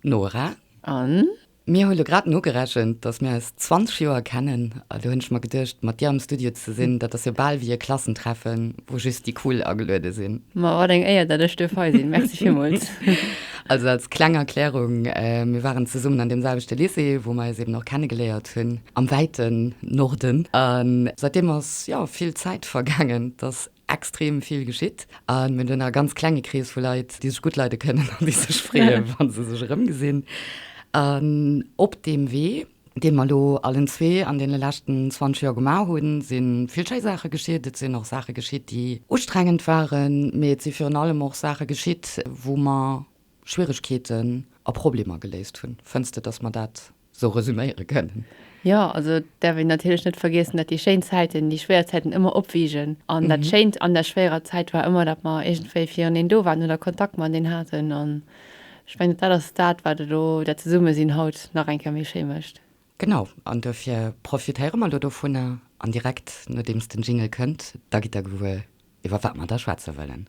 Nora, An? Mir hu lo grad nogerechent, dass mir eis 20 Joer kennen, a do hunn ech mer geduecht, mat dir am Studio ze sinn, dat ass jo bal wéi e Klassentreffen, wou just déi Cool ageluede sinn. Ma wat eng Éier, datt ech duerf hei sinn. Merci villmools. Also als kleng Erklärung, Mir waren zesummen an deem selwechte Lycée, wou mer eis eben och kennegeléiert hunn, am wäiten Norden. A säitdeem ass, jo, vill Zäit vergaangen. Dass extrem vill geschitt a mir hunn e ganz klenge Krees vu Leit, déi sech gutt leide kënnen an déi sech freeën, wa se sech erëmgesinn. An op deem Wee, dee mer elo allen zwee an deene leschten 20 Joer gemaach hunn, si vill schéi Saache geschitt. Et sinn och Saache geschitt, déi ustrengend waren, mee et si virun allem och Saache geschitt, wou mer Schwieregkeeten a Problemer geléist hunn. Fënns de, dass mer dat sou resuméiere kënnen. Jo, also et däerf een natierlech net vergiessen, dat déi schéin Zäiten déi schwéier Zäiten ëmmer opwiegen an dat Schéint an der schwéierer Zäit war ëmmer, dat mer iergendwéi fireneen do waren oder Kontakt mat eneen haten an ech mengen, dat ass dat, wat elo dat Zesummesinn haut nach eng Kéier méi schéi mécht. Genau, an duerfir profitéiere mer elo dovunner an direkt nodeems den Jingle kënnt, da gitt Der gewuer, iwwer wat mer da schwätze wëllen.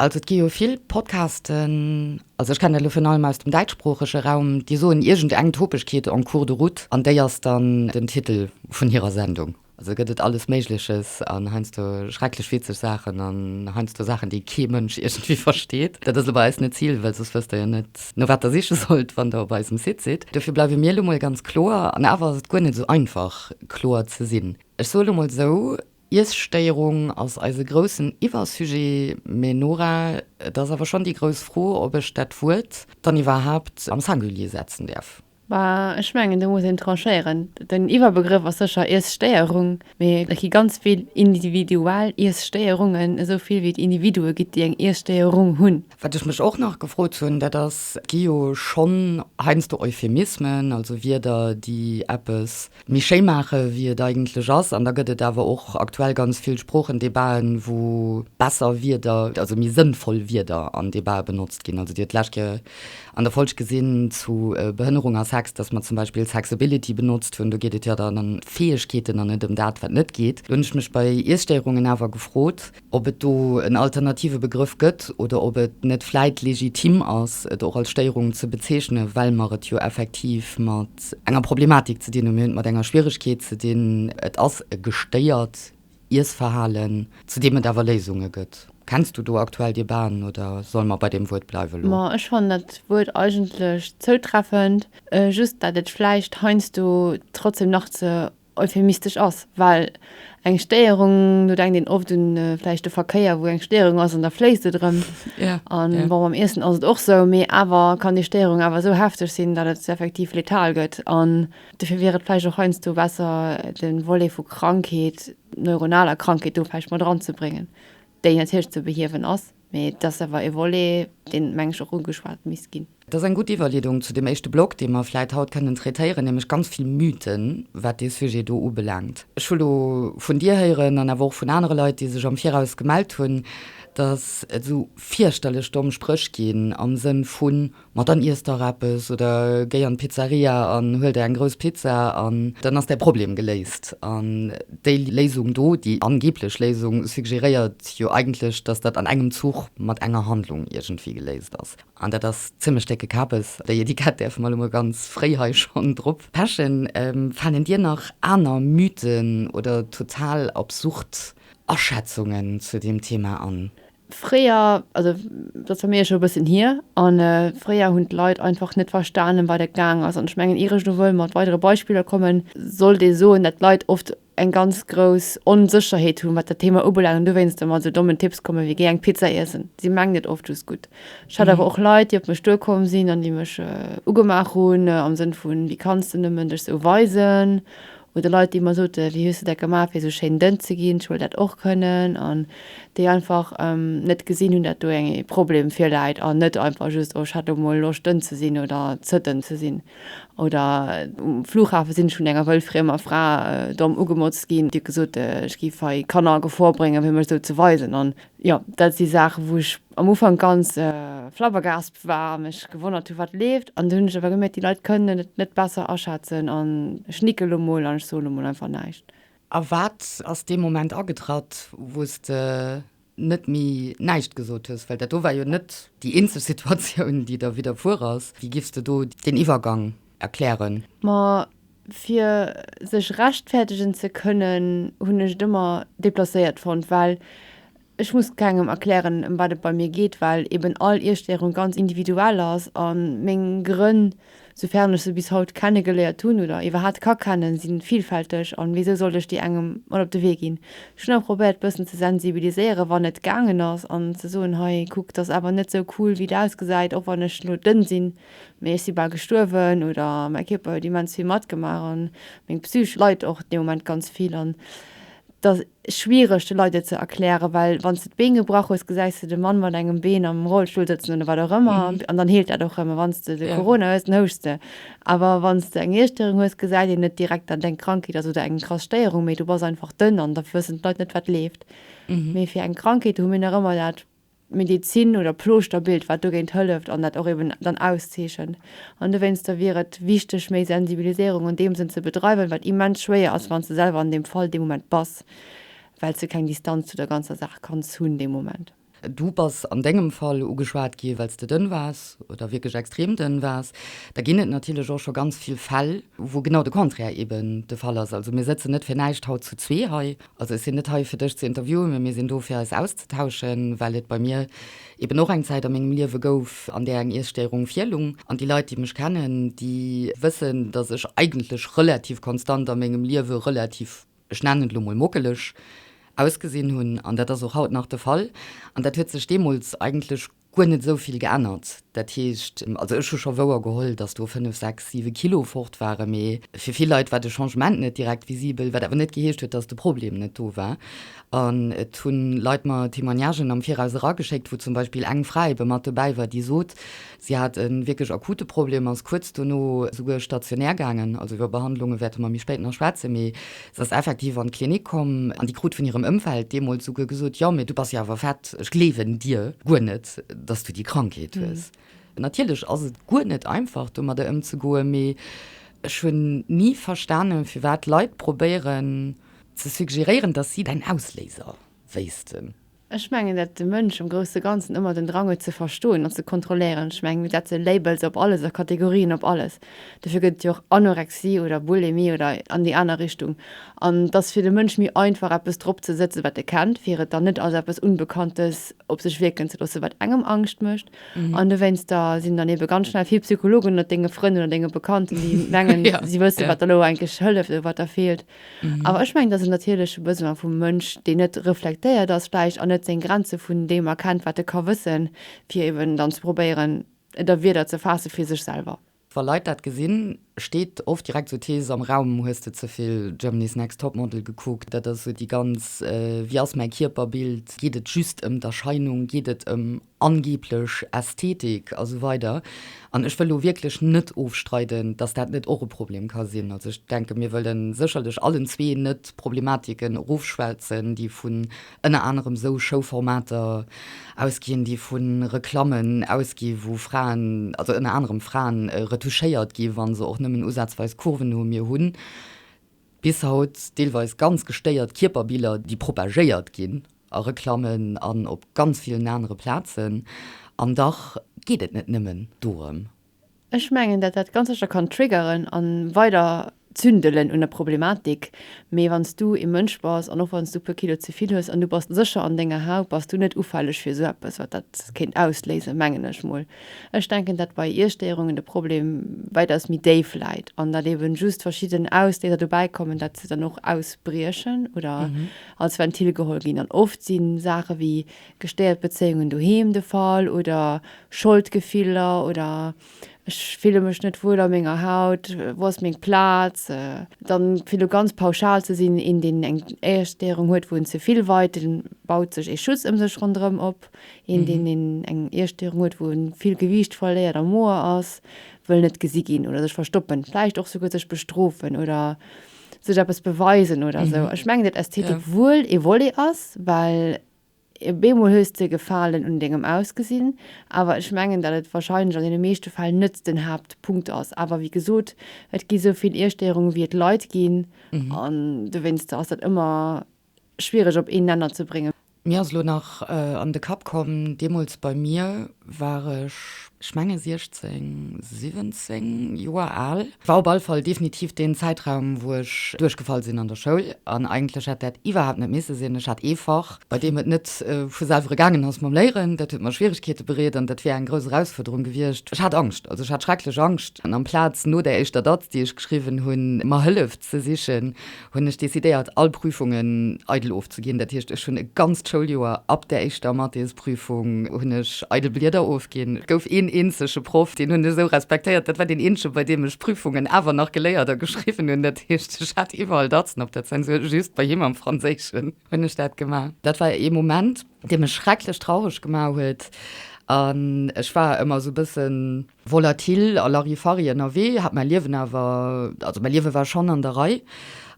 Also et gi jo vill Podcasten, also ech kennen dat elo virun allem aus dem däitschsproochege Raum, déi soen iergend eng Topegkeet en cours de route an déi ass dann den Titel vun hirer Sendung. Also gëtt et alles Méigleches an heiansdo schrecklech witzeg Saachen an heiansdo Saachen, déi kee Mënsch iergendwéi versteet. Dat ass elo bei eis net d'Zil, well soss wësst Der jo net, no wat Der siche sollt, wann Der op eisem Site sidd. Dofir bleiwe mir elo mol ganz kloer, an awer ass et guer net esou einfach, kloer ze sinn. Ech soe elo mol esou, Iesstéierung ass eise groussen Iwwersujet, mä Nora, et ass awer schonn déi grouss Fro, ob ech dat Wuert dann iwwerhaapt am Singulier setzen däerf. Bah, ech mengen, do muss een tranchéieren. Den Iwwerbegrëff ass sécher Iesstéierung, mä et gi ganz vill individuell Iesstéierungen, esou vill wéi et Individue gëtt, déi eng Iesstéierung hunn. Wat ech mech och nach gefrot hunn, dat ass, et gi jo schonn heiansdo Euphemismen, also Wierder, déi eppes méi schéi maache wéi et eigentlech ass, an da gëtt et awer och aktuell ganz vill Sproochendebaten, wou besser Wierder, also méi sënnvoll Wierder an Debaten benotzt ginn. Also Dir hutt d'lescht Kéier an der Folg gesinn zu Behënnerung a Sex, datt mer zum Beispill Sexability benotzt hunn. Do geet et jo dann ëm d'Fäegkeeten an net ëm dat wat net geet. Do hunn ech mech bei Iesstéierungen awer gefrot, ob et do en alternative Begrëff gëtt oder ob et net vläit legitim ass, et och als Stéierung ze bezeechnen, well mer et jo effektiv mat enger Problematik ze dinn hunn. Mir hunn et mat enger Schwieregkeet ze dinn. Et ass e gestéiert Iessverhalen, zu deem et awer Léisunge gëtt. Kenns du do aktuell Debaten oder solle mer bei deem Wuert bleiwen elo? Ma ech fannen dat Wuert eigentlech zoutreffend, just dat et vläicht heiansdo trotzdem nach ze euphemistesch ass, well eng Stéierung, do denkt een oft un vläicht de Verkéier, wou eng Stéierung ass an da fléisst et erëm. An bon, mam Iessen ass et och esou, mee awer kann déi Stéierung awer esou hefteg sinn, datt et effektiv letal gëtt. An dofir wier et vläicht och heiansdo besser, de Volet vu Krankheet, neuronaler Krankheet do vläicht mat eranzebréngen, déi natierlech ze behiewen ass. Mee et ass awer e Volet, deen, meng ech, och ugeschwat misst ginn. Dat ass eng gutt Iwwerleedung zu deem éischte Block, dee mer vläit haut kënnen traitéieren, nämlech ganz vill Mythen, wat dee Sujet do ubelaangt. Ech hu lo vun Dir héieren an awer och vun anere Leit, déi sech am Viraus gemellt hunn, datt et esou fierchterlech domm Spréch ginn am Sënn vu Ma dann iess dach eppes oder géi an d'Pizzeria an huel der eng grouss Pizza an dann ass däi Problem geléist. An déi Léisung do, déi angeblech Léisung, suggeréiert jo eigentlech, dass dat an engem Zuch mat enger Handlung iergendwéi geléist ass. An dat ass zimmlech décke Kapes. Déi Etikett däerfe mer elo mol ganz fréi hei schonn drop pechen. Fannen dir nach aner Mythen oder total absurd Aschätzungen zu deem Thema an? Fréier, also dat ass bei mir scho e bëssen hier, an fréier hunn d'Leit einfach net verstanen, wat et gaang ass. An ech mengen, ier ech elo wëll mat weidere Beispiller kommen, sollt ee soen, datt d'Leit oft eng ganz grouss Onsécherheet hunn, wat dat Thema ubelaangt, an dowéinst da mat esou dommen Tipps kommen, wéi géi eng Pizza iessen. Si mengen et oft just gutt. Ech hat awer och Leit, déi op mech duerkomm sinn an déi mech ugemaach hunn am Sënn vun, Wéi kanns de nëmmen dech esou weisen? oder Leit déi mer soten, wéi hues de dat gemaach fir esou schéin dënn ze ginn, ech wëll dat och kënnen, an déi einfach net gesinn hunn dat do ee Problem virläit, an net einfach just oh ech hat elo mol Loscht dënn ze sinn oder ze dënn ze sinn. Oder um Flughafe sinn ech vun enger wëllfriemer Fra domm ugemotzt ginn, déi huet gesot ech géif hei Kanner a Gefor bréngen fir mech esou ze weisen, an jo dat si Saachen wou ech am Ufank ganz flabbergaspt war a mech gewonnert hu wat leeft an dunn hunn ech awer gemierkt déi Leit kënnen et net besser aschätzen an ech nicke elo mol an ech soen elo mol einfach näischt. A wat ass dee Moment agetratt wou s de net méi näischt gesot hues? Well dat do war jo net déi eenzeg Situatioun déi der widderfuer ass. Wéi giffs de do deen Iwwergang erklären? Ma fir sech rechtfäerdegen ze kënnen hunn ech et ëmmer deplacéiert fonnt, well Ech muss kengem erklären em wat et bei mir geet, well eben all Iesstéirung ganz individuell ass a meng Grënn, soufern ech se bis haut kennegeléiert hunn oder iwwerhat ka kennen, si villfälteg an wisou sollt ech déi engem mat op de Wee ginn? Ech hunn awer probéiert bëssen ze sensibiliséieren wann et gaangen ass an ze soen, hei kuck d'ass awer net sou cool wéi et ausgesäit, och wann ech elo dënn sinn, mee ech si bal gestuerwen oder mäi Kierper huet immens vill matgemaach an meng Psych leit och dee Moment ganz vill an dass schwiereg de Leit et ze erklären, well wann s de d'Been gebrach hues, gesäis de de Mann mat engem Been am Rollstull sëtzen oder wat och ëmmer an dann heelt dat och erëm. A wann s de de Corona hues, dann houschs de. Awer wann s de eng Iesstörung hues, gesäit een net direkt, datt et eng Krankheet ass oder eng krass Stéierung, mee du bass einfach dënn an da wëssen d'Leit net, wat leeft. Mee fir eng Krankheet hu mir nach ëmmer dat Medezin oder Plooschter-Bild, wat dogéint hëlleft an dat och eben dann auszeechent. An dowéinster wier et wichteg, méi Sensibiliséierung an deem Sënn ze bedreiwen, wat immens schwéier ass, wann s de selwer an deem Fall dee Moment bass, well s de keng Distanz zu der ganzer Saach kanns hunn dee Moment. Du bass an dengem Fall ugeschwat gi well s de dënn waars oder wierklech extrem dënn waars. Da ginn et natierlech och scho ganz vill Fäll, wou genau de Contraire eben de Fall ass. Also mir sëtzen net fir näischt haut zu zwee hei Also ech sinn net hei, fir dech ze interviewen, mä mir sinn do, fir eis auszetauschen, well et bei mir eben och eng Zäit a mengem Liewe gouf, an där eng Iesstéierung virlung. An déi Leit, déi mech kennen, déi wëssen, dass ech eigentlech relativ konstant a mengem Liewe relativ, ech nennen et elo mol mockeleg ausgesinn hunn. An dat ass och haut nach de Fall. An dat huet sech deemools eigentlech guer net esou vill geännert. Dat heescht, also ech hu scho wouer geholl, datt do fënnef, sechs, siwe Kilo fort waren, mee fir vill Leit war de Changement net direkt visibel, wat awer net geheescht huet, datt de Problem net do war. An et hu Leit mer Témoignagen am Viraus erageschéckt, wou zum Beispill eng Fra ebe mat dobäi war, déi sot, si hat e wierklech akute Problem, ass kuerz dono souguer stationär gaangen, also iwwer Behandlunge wäerte mer méi spéit nach schwätzen, mee Se ass effektiv an d'Klinik komm an déi krut vun hirem Ëmfeld deemools souguer gesot, Jo, mee du bass jo awer fett, ech gleewen dir guer net, dass du déi Krankheet hues. Natierlech ass et guer net einfach domadder ëmzegoen, mee ech hunn ni verstanen, firwat Leit probéieren ze suggeréieren, dass si däin Ausléiser wéissten. Ech mengen, dat de Mënsch am grousse Ganzen ëmmer den Drang huet ze verstoen an ze kontrolléieren. Ech mengen, dat ze Labels op alles a Kategorien op alles, dofir gëtt et jo och Anorexie oder Bulimie oder an déi aner Richtung. An et ass fir de Mënsch méi einfach, eppes drop ze sëtzen, wat e kennt, fir et dann net als eppes Unbekanntes op sech wierken ze loossen, wat engem Angscht mécht. An dowéinster sinn dann eebe ganz schnell vill Psychologen ënnert denge Frënn oder denge Bekannten, déi mengen, si wësse wat der elo eigentlech hëlleft oder wat der feelt. Awer ech mengen, dass en natierleche Besoin vum Mënsch, deen net reflektéiert ass vläicht an net seng Grenze vun deem erkennt, wat e ka wëssen, fir eben dann ze probéieren, et a Wierder ze faasse fir sech selwer. Wa Leit dat gesinn, steet oft direkt esou d'Thees am Raum, Hues de ze vill Germany's Next Topmodel gekuckt? Dat ass esou déi ganz Wie ass mäi Kierper? Bild. Geet et just ëm d'Erscheinung? Geet et ëm angeblech Ästhetik a sou weider an ech wëll do wierklech net ofstreiden, dass dat net och e Problem ka sinn. Also ech denke mir wëlle sécherlech allen zwee net d'Problematiken erofschwätzen, déi vun ënner anerem esou Show-Formater ausginn, déi vu Reklammen ausginn, wou Fraen, also ënner anerem Fraen, retuschéiert ginn, wa se och nëmmen usazweis Kurven hunn. Mir hu Bis haut deelweis ganz gestéiert Kierperbiller, déi propagéiert ginn a Reklammen an op ganz villen anere Plazen. An dach geet et net nëmmen dorëm. Ech mengen, dat dat ganz sécher kann triggeren a weider zündelen un der Problematik. Mee wann s du ee Mënsch bass an och wann s du e puer Kilo ze vill hues an du bass sécher an denger Haut, bass du net ufälleg fir esou eppes, wat dat kéint ausléisen, mengen ech mol. Ech denken, datt bei Iesstéierungen de Problem wäitaus méi déif läit an datt eeben just verschidden Ausléiser dobäi kommen, datt se dann och ausbriechen oder als Ventil geholl ginn. An oft si Saache wéi gestéiert Bezéiungen doheem de Fall oder Scholdgefiller oder ech fille mech net wuel a menger Haut, wou ass meng Plaz? Dann fir lo ganz pauschal ze sinn, een deen eng Iesstéierung huet, wou en ze vill weit, dee baut sech ee Schutz ëm sech ronderëm op. Een, deen een eng Iesstéierung huet, wou en vill Gewiicht verléiert a moer ass, wëll net gesi ginn oder sech verstoppen, vläicht och souguer sech bestrofen oder sech eppes beweisen oder esou. Ech mengen, datt Ästhetik wuel ee Volet ass, well op eemol hues de Gefalen un dengem Ausgesinn, awer ech mengen, datt et warscheinlech an deene meeschte Fäll net den Haaptpunkt ass. Awer wéi gesot, et gi sou vill Iesstéierungen, wéi et Leit ginn an dowéinster ass dat ëmmer schwiereg op een Nenner ze bréngen. Mir ass elo nach an de Kapp komm, deemools bei mir war ech, ech menge 16, 17 Joer al, war op alle Fall definitiv deen Zäitraum, wou ech duerchgefall sinn an der Schoul an eigentlech hätt dat iwwerhaapt net misse sinn. Ech hat ee Fach, bei deem et net vu selwere gaangen ass mam Léieren, dat huet mer Schwierigkeete bereet an dat wier eng grouss Erausfuerderung gewiescht. Ech hat Angscht, also ech hat schrecklech Angscht an amplaz no där éischter Datz, déi ech geschriwwen hunn, mer Hëllef ze sichen, hunn ech decidéiert, all Prüfungen eidel ofzeginn. Dat heescht, ech hunn e ganzt Schouljoer, ab der éischter Mathésprüfung, hunn ech eidel Blieder ofginn. Et gouf een eenzege Proff, deen hunn ech esou respektéiert, dat war deen eenzege, bei deem ech Prüfungen awer nach geléiert a geschriwwen hunn. Dat heescht, ech hat iwwerall Datzen op der Zensur, just bei him am Franséischen hunn ech dat gemaach. Dat war ee Moment, dee mech schrecklech traureg gemaach huet an ech war ëmmer esou e bëssen. Volatil a Larifari ënnerwee, hat mäi Liewen awer, also mäi Liewe war schonn an der Rei.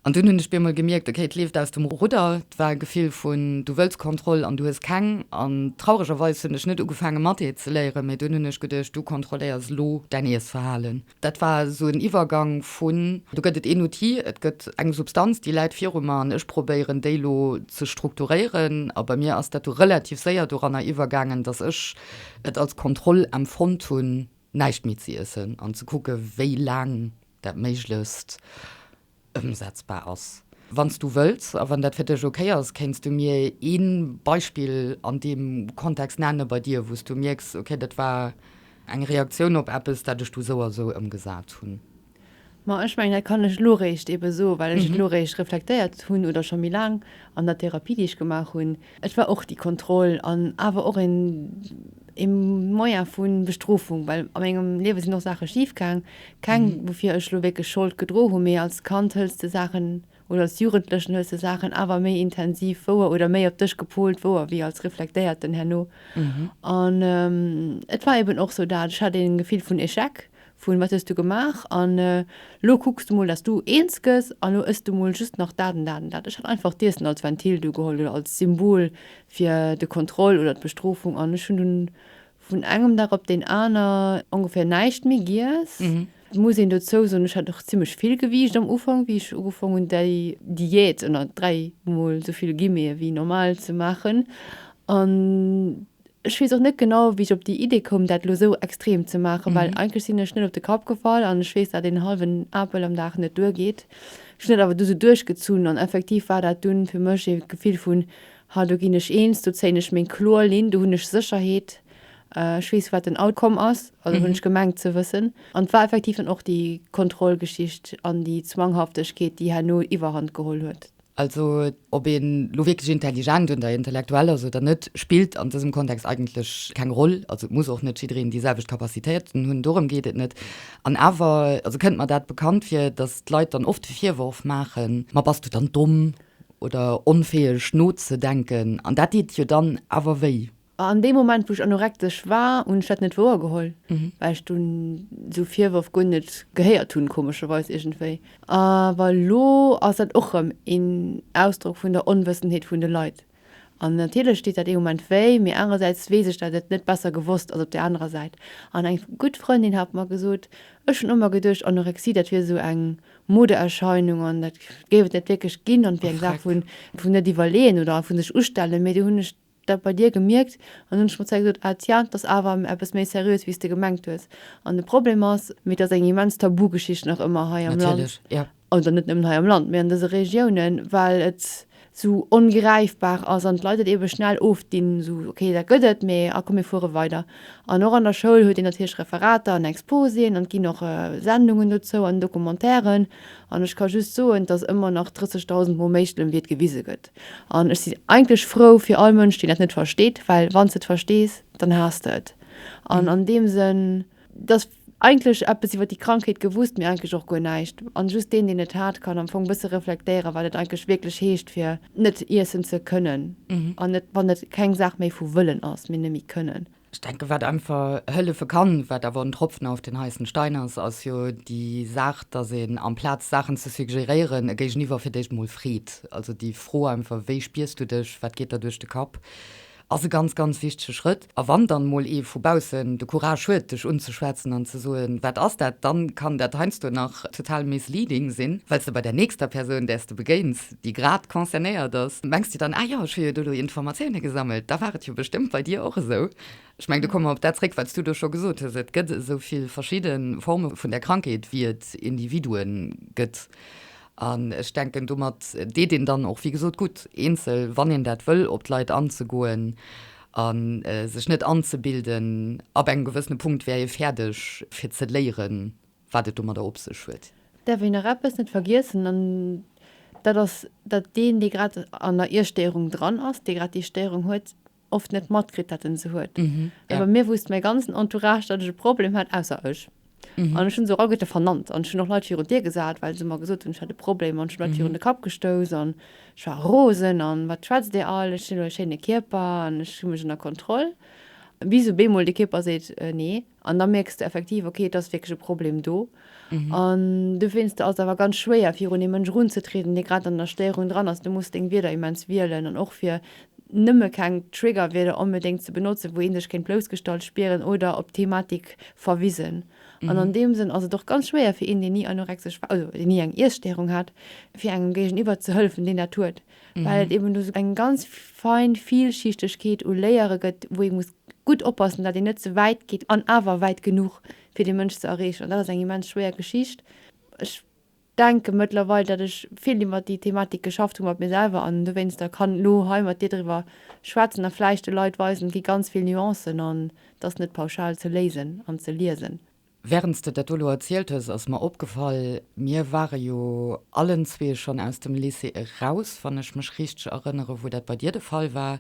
An dunn hunn ech bemol gemierkt, ok, et leeft aus dem Rudder. Et war e Gefill vun, du wëlls Kontroll an du hues keng. An trauregerweis hunn ech net ugefaange Mathé ze léieren, mee dunn hunn ech geduecht, du kontrolléiers elo däin Iessverhalen. Dat war esou en Iwwergang vun, do gëtt et een Outil, et gëtt eng Substanz, déi läit viru mer an ech probéieren déi elo ze strukturéieren. A bei mir ass dat du relativ séier doranner iwwergaangen, datt ech et als Kontroll empfonnt hunn, näischt méi ze iessen an ze kucke wéi laang dat méiglechst ëmsetzbar ass. Wann s du wëlls a wann dat fir dech okay ass, kéints du mir ee Beispill an deem Kontext nenne bei dir, wou s du mierks, okay, dat war eng Reaktioun op eppes, dat ech du esou a esou ëmgesat hunn. Ma ech mengen, dat kann ech elo réischt ebe soen, well ech et elo réischt reflektéiert hunn oder scho méi laang an der Therapie, déi ech gemaach hunn. Et war och déi Kontroll an awer och een, ee Moyen vu Bestrofung, well a mengem Liewe sinn och Saache schifgaang. Keng, woufir ech elo wierklech Schold gedroe hunn, mee als Kand hëls de Saachen oder als Jugendlechen hues de Saachen awer méi intensiv wouer oder méi op dech gepolt wouer wéi als Reflektéierten herno. An et war eben och sou dat, ech hat een Gefill vun Echec, vun wat hues du gemaach an elo kucks du mol, dass du eens gëss an elo ëss du mol just nach dat an dat an dat. Ech hat einfach d'Iessen als Ventil do geholl oder als Symbol fir de Kontroll oder d'Bestrofung an ech hunn dunn vun engem Dag op deen aner ongeféier näischt méi giess. Et muss een dozou soen, ech hat och zimmlech vill gewiegt am Ufank, wéi ech ugefong hunn, déi Diät ënner dräi mol esou vill Guillemete wéi normal ze maachen. An ech weess och net genau, wéi ech op déi Idee koum, dat elo esou extrem ze maachen, well eigentlech sinn ech net op de Kapp gefall an ech weess, datt een hallwen Apel am Dag net duergeet. Ech hunn dat awer du esou duerchgezunn an effektiv war dat dunn fir mech e Gefill vun, ha do ginn ech eens, do zéien ech meng kloer Linn, do hunn ech Sécherheet Ech weess wat den Outcome ass, also hunn ech gemengt ze wëssen. An et war effektiv dann och déi Kontrollgeschicht an déi Zwanghaftechkeet, déi herno Iwwerhand geholl huet. Also ob een elo wierklech intelligent oder intellektuell ass oder net, spillt an dësem Kontext eigentlech keng Roll. Also et muss och net jiddereen déi selwecht Capacitéiten hunn, dorëm geet et net. An awer, also kënnt mer dat bekannt vir, datt d'Leit dann oft de Virworf maachen, ma bass du dann domm oder onfäeg nozedenken. An dat deet jo dann awer wéi. A an deem Moment, wou ech anorektesch war, hunn ech dat net wouer geholl, well ech dunn esou Virwërf guer net gehéiert hunn, komescherweis iergendwéi. Awer elo ass dat och rëm een Ausdrock vun der Onwëssenheet vun de Leit. An natierlech deet dat ee Moment wéi, mee anerersäits weess ech, dat et net besser gewosst ass op där anerer Säit. An eng gutt Frëndin hat mer gesot, ech hunn ëmmer geduecht, Anorexie, dat wier esou eng Modeerscheinung an dat géif et net wierklech ginn an et wier eng Saach vun net iwwerleeën oder vu sech ustellen, mee du hunn ech dat bei dir gemierkt an hunn schonn zeil gesot, ah tja, t'ass awer eppes méi seriös wéi's de gemengt hues an de Problem ass, mee t'ass eng immens Tabugeschicht nach ëmmer hei am Land, Natierlech, ja. oder net nëmmen hei am Land, mee an dëse Regiounen, well et esou ongräifbar ass an d'Leit et eebe schnell ofdinn, esou, okay, dat gëtt et, mee ah komm, mir fuere weider. An och an der Schoul huet een natierlech Referater an Exposien an et ginn och Sendungen dozou an Documentairen an ech ka just soen, t'ass ëmmer nach 30.000 mol méi schlëmm, wéi et gewise gëtt. An ech sinn eigentlech frou fir all Mënsch, deen dat net versteet, well wann s de et verstees, dann haass de et. An an deem Sënn, et ass eigentlech eppes iwwer déi Krankheet gewusst, mee eigentlech och guer näischt. An just deen, deen et hat, kann am Fong e bësse reflektéieren, wat et eigentlech wierklech heescht, fir net iessen ze kënnen. An net, wann et keng Saach méi vu wëllen ass, mee nëmme kënnen. Ech denken, wat einfach hëllefe kann, wat awer en Tropfen auf den heißen Stein ass, ass jo déi Saach, dass een amplaz Saachen ze suggerieren, e Géigeniwwer fir d'éischt emol freet. Also déi Fro einfach, Wéi spiers du dech? Wat geet der duerch de Kapp? ass e ganz, ganz wichtige Schrëtt. A wann dann emol ee vu baussen de Courage huet, dech unzeschwätzen an ze soen, Wat ass dat? dann kann dat heiansdo nach total misleading sinn, well s de bei där nächster Persoun, där s de begéins, déi grad concernéiert ass, mengs de dann, ah jo, ech hu jo do elo Informatioune gesammelt, da war et jo bestëmmt bei dir och esou. Ech meng, do komme mer op dat zréck, wat s du do scho gesot hues, Et gëtt esou vill verschidde Forme vun der Krankheet, wéi et Individue gëtt. An ech denken, domat deet een dann och, wéi gesot, gutt, eenzel, wann een dat wëll, op d'Leit anzegoen a sech net anzebilden, ab engem gewëssene Punkt wär ee fäerdeg, fir ze léieren, wat et domadder op sech huet. Däerf een nach eppes net vergiessen, an dat ass, datt deen, dee grad an der Iesstéierung dran ass, dee grad déi Stéierung huet, oft net matkritt, datt en se huet. Mä bei mir wousst mäi ganzen Entourage, datt ech e Problem hat, ausser ech. An ech hunn se och all guer vernannt an ech hunn och Leit virun d'Dier gesat, well se mer gesot hunn, ech hätt e Problem an ech hunn Leit virun de Kapp gestouss an ech war rosen an wat schwätzt Dir all, ech hunn elo e schéine Kierper an ech hu mech ënner Kontroll, bis op eemol de Kierper seet, Nee, An da mierks de effektiv, ok, et ass wierklech e Problem do. An dowéinst ass et awer ganz schwéier, fir un ee Mënsch erunzetrieden, dee grad an der Stéierung dran ass. Du muss deng Wierder immens wielen an och fir nëmme keng Triggerwierder onbedéngt ze benotzen, wou ee sech kéint bloussgestallt spieren oder op d'Thematik verwisen. An an deem Sënn ass et och ganz schwéier fir een, deen ni anorektesch war, also deen ni eng Iesstéierung hat, fir engem géigeniwwer ze hëllefen, deen dat huet. well et eben do eng ganz fein Vielschichtegkeet u Layere gëtt, wou ee muss gutt oppassen, datt een net ze wäit geet an awer wäit genuch, fir dee Mënsch ze erreechen. An dat ass eng immens schwéier Geschicht. Ech denke mëttlerweil, datt ech vill iwwert déi Thematik geschafft hu mat mir selwer an dowéinster kann elo hei mat dir driwwer schwätzen a vläicht de Leit weisen, et gi ganz vill Nuancen an et ass net pauschal ze léisen an ze liesen. Während s de dat do elo erzielt hues, ass mer opgefall, mir ware jo allenzwee schonn aus dem Lycée eraus, wann ech mech richteg erënnere wou dat bei dir de Fall war.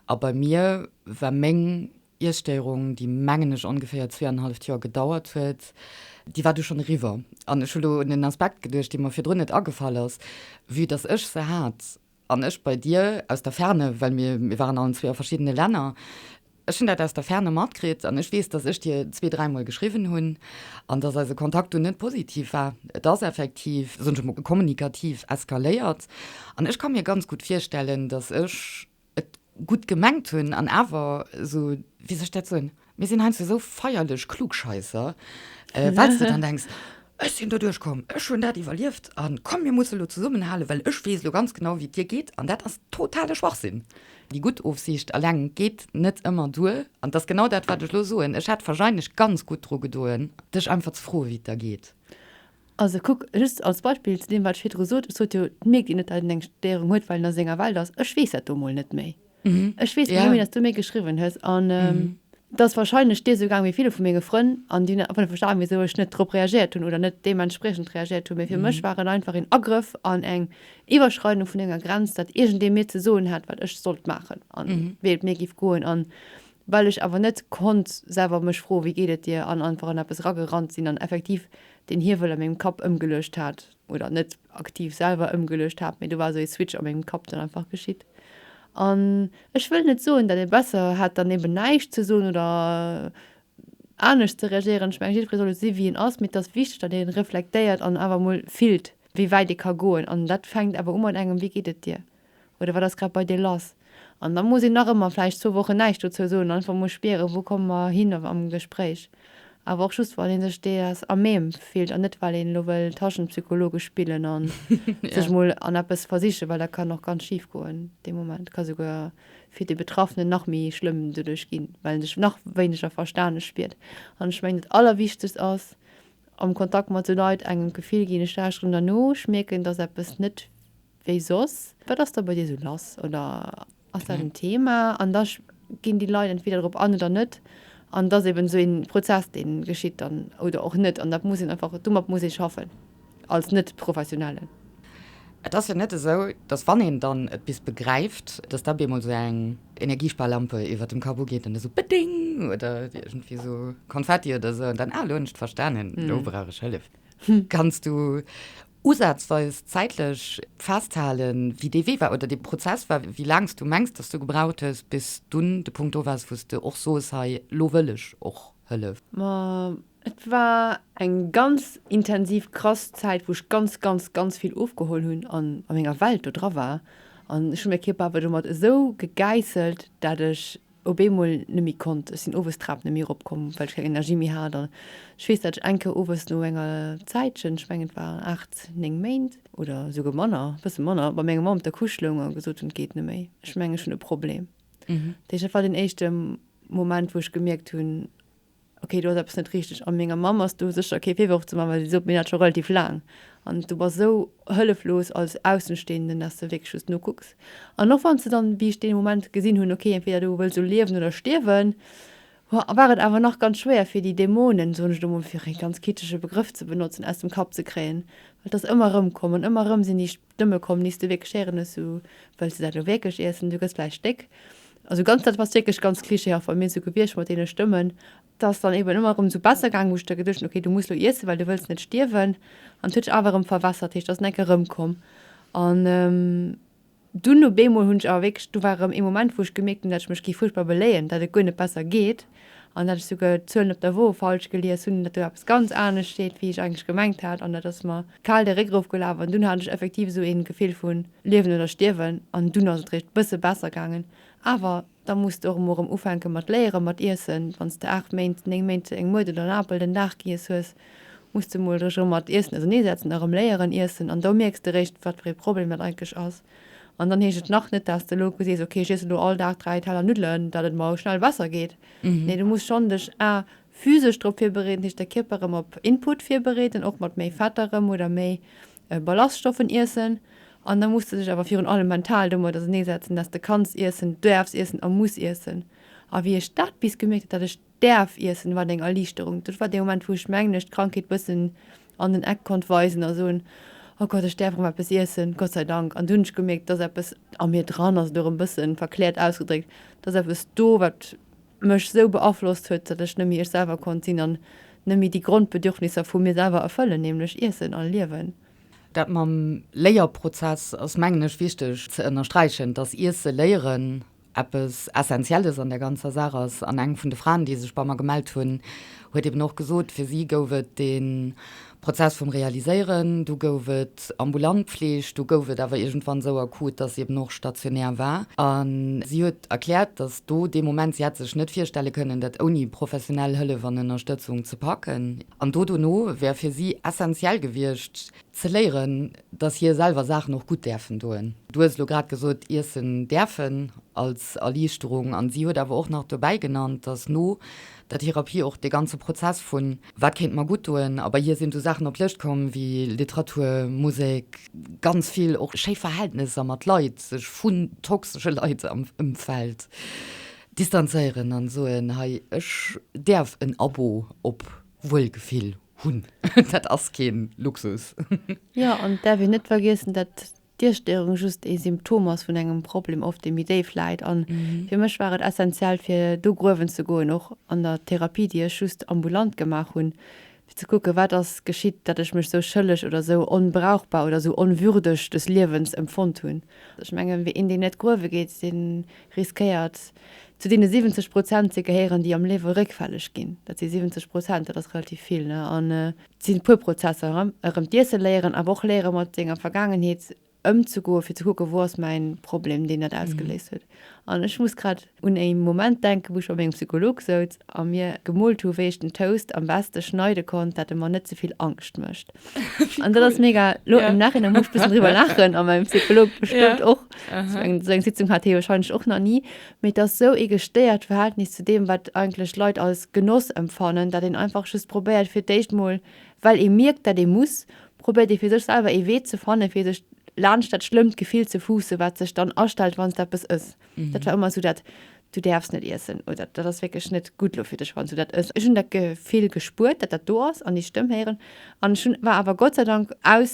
A bei mir war meng Iesstéierung, déi mengen ech ongeféier zweeanenhalleft Joer gedauert huet, déi war du schonn eriwwer. An ech hu lo un en Aspekt geduecht, dee mer virdrun net agefall ass, vue dass ech se hat. An ech bei dir, aus der Ferne, well mir, mir waren allen zwee a verschiddene Länner, ech hunn dat aus der Ferne matkritt an ech weess, dass ech dir zwee, dräimol geschriwwen hunn an dass eise Kontakt dunn net positiv war. Et ass effektiv, soen ech emol, kommunikativ eskaléiert an ech ka mir ganz gutt virstellen, dass ech et, gutt gemengt hunn an awer esou, wéi soll ech dat soen, mir sinn heiansdo esou feierlech Klugscheisser, well s de dann denks, ech sinn doduerch komm, ech hunn dat iwwerlieft a komm mir musse lo zesummenhalen, well ech weess lo ganz genau, wéi et dir geet. An dat ass totale Schwachsinn. Déi gutt Ofsiicht eleng geet net ëmmer duer an dat ass genau dat, wat ech lo soen. Ech hätt warscheinlech ganz gutt dru gedoen, dech einfach ze froe wéi et der geet. Also kuck, just als Beispill zu deem, wat ech virdru sot, Ech sot jo, et mierkt een net, datt een eng Stéierung huet, well een a senger Welt ass. Ech weess dat do emol net méi. Ech weess emol net méi, datt s du mir geschriwwen hues. An et ass warscheinlech dir esou gaang wéi ville vu menge Frënn. An déi hunn einfach net verstanen, wisou ech net drop reagiert hunn oder net deementspriechend reagiert hunn. Mee fir mech war et einfach een Agrëff an eng Iwwerschreidung vun enger Grenz, datt iergendee mir ze soen hat, wat ech sollt maachen a wéi et mir géif goen. An well ech awer net konnt selwer mech froen, Wéi geet et dir? an einfach an eppes eragerannt sinn an effektiv deen Hiewel a mengem Kapp ëmgeluecht hat, oder net aktiv selwer ëmgeluecht hat, mee do war esou ee Switch a mengem Kapp dann einfach geschitt. An ech wëll net soen, datt ee besser hätt dann eben näischt ze soen oder anescht ze reagieren. Ech mengen, jiddweree soll esou si wéi en ass, mee et ass wichteg, datt ee reflektéiert an awer emol fillt, wéi wäit ee ka goen. An dat fänkt awer u mat engem Wéi geet et dir? oder wat ass grad bei dir lass? An da muss een nach ëmmer vläicht zwou Wochen näischt dozou soen, einfach mol spieren, wou komme mer hin am Gespréich. Awer och just, wann ee sech deeass à même fillt an net, well een elo wëll Taschenpsychologe spillen a sech mol an eppes versichen, well dat kann och ganz schif goen dee Moment. Ka souguer fir de Betraffenen nach méi schlëmm doduerch ginn, well en sech nach wéineger verstane spiert. An ech mengen, dat Allerwichtegst ass, am Kontakt mat sou Leit engem d'Gefill ginn, ech lauschteren der no, ech mierken, et ass eppes net, wéi soss? Wat ass da bei dir esou lass oder ass dat en Thema? An da ginn déi Leit entweder drop an oder net. An et ass eben esou ee Prozess, dee geschitt dann oder och net. An dat muss een einfach, domat muss ee schaffen als Net-Professionellen. Et ass jo net esou, dass wann een dann et bis begräift, dass da bemol esou eng Energiesparlampe iwwert dem Kapp ugeet an da esou Beding! Oder iergendwéi esou Konfetti oder esou an dann, Ah, elo hunn ech et verstanen, elo brauch ech Hëllef. Kanns du. usazweis zäitlech festhalen, wéi dee Wee war oder dee Prozess war, wéi laang s du mengs, dass du gebraucht hues, bis s dunn de Punkt do waars, wou s de och soos, hei, lo wëll ech och Hëllef? Ma et war eng ganz intensiv, krass Zäit, wou ech ganz, ganz, ganz vill ofgeholl hunn an a menger Welt do dra war. An ech hu mäi Kierper awer domat esou gegäisselt, dat ech op eemol net méi konnt, ech sinn owes d'Trap net méi erop komm, well ech keng Energie méi hat an ech weess dat ech eng Kéier owes no enger Zäitchen, ech mengen et war 8, 9 Méint oder esouguer manner, e bësse manner, bei menger Mamm op der Couche loung a gesot hunn et geet net méi, ech mengen ech hunn e Problem. Dat heescht dat war deen éischte Moment wou ech gemierkt hunn, Ok, do ass eppes net richteg. A menger Mamm ass do sécher kee Virworf ze maachen, well si sot, Mir dat scho relativ laang. An du bass esou hëlleflos als Aussenstehenden, dass de wierklech just nokucks. An och wann s de dann, wéi ech dee Moment gesinn hunn, ok, entweder du wëlls elo liewen oder stierwen, war et awer nach ganz schwéier, fir déi Dämonen, soen ech elo mol, fir e ganz kitschege Begrëff ze benotzen, aus dem Kapp ze kréien. Well et ass ëmmer erëmkomm an ëmmer erëm sinn déi. D'Dëmme komm nees, du wierklech Ären hues, sou wëlls de dat elo wierklech iessen, du gëss vläicht déck. Also ganz dat ass wierklech ganz klischeehaft bei mir sou gewiescht mat deene Stëmmen. Et ass dann eben ëmmer erëm sou besser gaangen, wou ech da geduecht hunn, okay, du muss elo iessen, well du wëlls net stierwen. An et huet sech awer erëm verwässert, heescht et ass en enke rëmkomm. An dunn op eemol hunn ech awer wierklech, do war erëm ee Moment, wou ech gemierkt hunn, dat ech mech gi fuerchtbar beléien, dat et guer net besser geet. An dat ech souguer d'Zuelen op der Woe falsch gelies hunn, datt do eppes ganz anescht steet, wéi ech eigentlech gemengt hat. An dat ass mer kal de Réck erofgelaf an dunn hat ech effektiv esou ee Gefill vu Liewen oder Stierwen. An dunn ass et réischt e bësse besser gaangen. Awer da muss de och emol erëm ufänke mat léiere mat iessen. Wann s de aacht Méint, néng Méint eng Muert oder en Apel den Dag giess hues, muss de emol dech erëm mat Iessen auserneesetzen a erëm léieren iessen. An do mierks de réischt, wat fir ee Problem dat eigentlech ass. An dann heescht et nach net, dass de elo gesees, ok, ech iessen elo all Dag dräi Teller Nuddelen, datt et mer schnell besser geet. Nee, du muss schonn dech a physesch drop virbereeden, dat heescht de Kierper erëm op Input virbereeden, och mat méi Fetter erëm oder méi Ballaststoffen iessen. An da muss de dech awer virun allem mental domat auserneesetzen, dass de kanns iessen, duerfs iessen a muss iessen. A wéi ech dat bis gemierkt hat, dat ech. däerf iessen, war et eng Erliichterung. Dat war dee Moment, wou ech mengen ech d'Krankheet bëssen an den Eck konnt weisen a soen, Oh Gott, ech däerf erëm eppes iessen, Gott sei Dank. An dunn hunn ech gemierkt, dass eppes a mir dran ass, oder erëm bësse verkläert ausgedréckt, dass eppes do, wat mech esou beaflosst huet, datt ech net méi ech selwer konnt sinn an net méi déi Grondbedürfnisser vu mir selwer erfëllen, nämlech iessen a liewen. Dat mam Léierprozess ass mengen ech wichteg ze ënnersträichen, dass Iesse léieren Eppes Essentielles an der ganzer Saach ass, an eng vun de Fraen, déi sech bei mer gemellt hunn, huet eben och gesot, fir si gouf et de Prozess vum Realiséieren, du gouf et ambulant Pfleeg, du gouf et awer iergendwann esou akut, dass si eben och stationär war. A si huet erkläert, dass do dee Moment, si hätt sech net virstelle kënnen, dat ouni professionell Hëllef an Ënnerstëtzung ze packen. An do dono wär fir si essentiell gewiescht, Ze léieren, dass hie selwer Saachen och gutt däerfen doen. Du hues elo grad gesot, iessen däerfen als Erliichterung. An si huet awer och nach dobäi genannt, dass no der Therapie och dee ganze Prozess vun, wat kéint mer gutt doen? A bei hir sinn esou Saachen op d'Lëscht komm wéi Literatur, Musek, ganz vill och schéi Verhältnesser mat Leit, sech vun toxesche Leit am Ëmfeld distanzéieren an soen, hei ech däerf en Abo op Wuelgefill Hunn. Dat ass kee Luxus. Jo, an et däerf een net vergiessen, dat d'Iesstörung just ee Symptom ass vun engem Problem oft, dee méi déif läit. An fir mech war et essentiell, fir do gruewen ze goen, och an der Therapie, déi ech just ambulant gemaach hunn, fir ze kucken, wat ass geschitt, datt ech mech esou schëlleg oder esou onbrauchbar oder esou onwürdeg des Liewens empfonnt hunn. Ech mengen, een, deen net gruewe geet, dee riskéiert, Zu deene 70 Prozent ze gehéieren, déi am Liewe réckfälleg ginn. Dat si 70 Prozent, dat ass relativ vill. An et sinn e puer Prozesser, erëm d'Iesse léieren, awer och léiere mat senger Vergaangenheet ëmzegoen, fir ze kucken, wou ass mäin Problem, deen dat ausgeléist huet. An ech muss grad un e Moment denken, wou ech bei mengem Psycholog souz A mir gemoolt hu wéi ech den Toast am beste schneide konnt dat e mer net zevill Angscht mécht. An dat ass mega lo am Nachhinein muss ech bëssen driwwer laachen a mäin Psycholog bestëmmt och. Sou eng sou eng Sitzung hat hee warscheinlech och nach ni. Mee et ass sou ee gestéiert Verhältnis zu deem wat eigentlech Leit als Genoss empfannen, dat een einfach just probéiert fir d'éischt mol, well ee mierkt dat ee muss, probéiert ee fir sech selwer ee Wee ze fannen fir sech laanscht dat schlëmmt Gefill ze fuussen wat sech dann astellt wann s et eppes ëss. mhm. dat war immer so dat du derfst net essen oder dat ass wirklich net gut lo fir dech wann du dat ëss. Ech hun dat Gefill gespuert, dat dat do ass an déi Stëmm héieren an ech hun war awer Gott sei Dank aus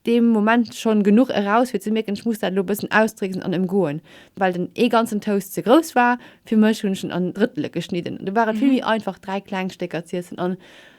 dem Moment schon genug eraus fir ze mierken, ech muss dat lo bëssen ausdrécksen an emgoen, well den ee ganzen Toast ze grouss war fir mech, hunn ech en an Drëttele geschnidden. Du war et mhm. vill méi einfach dräi kleng Stécker z'iessen an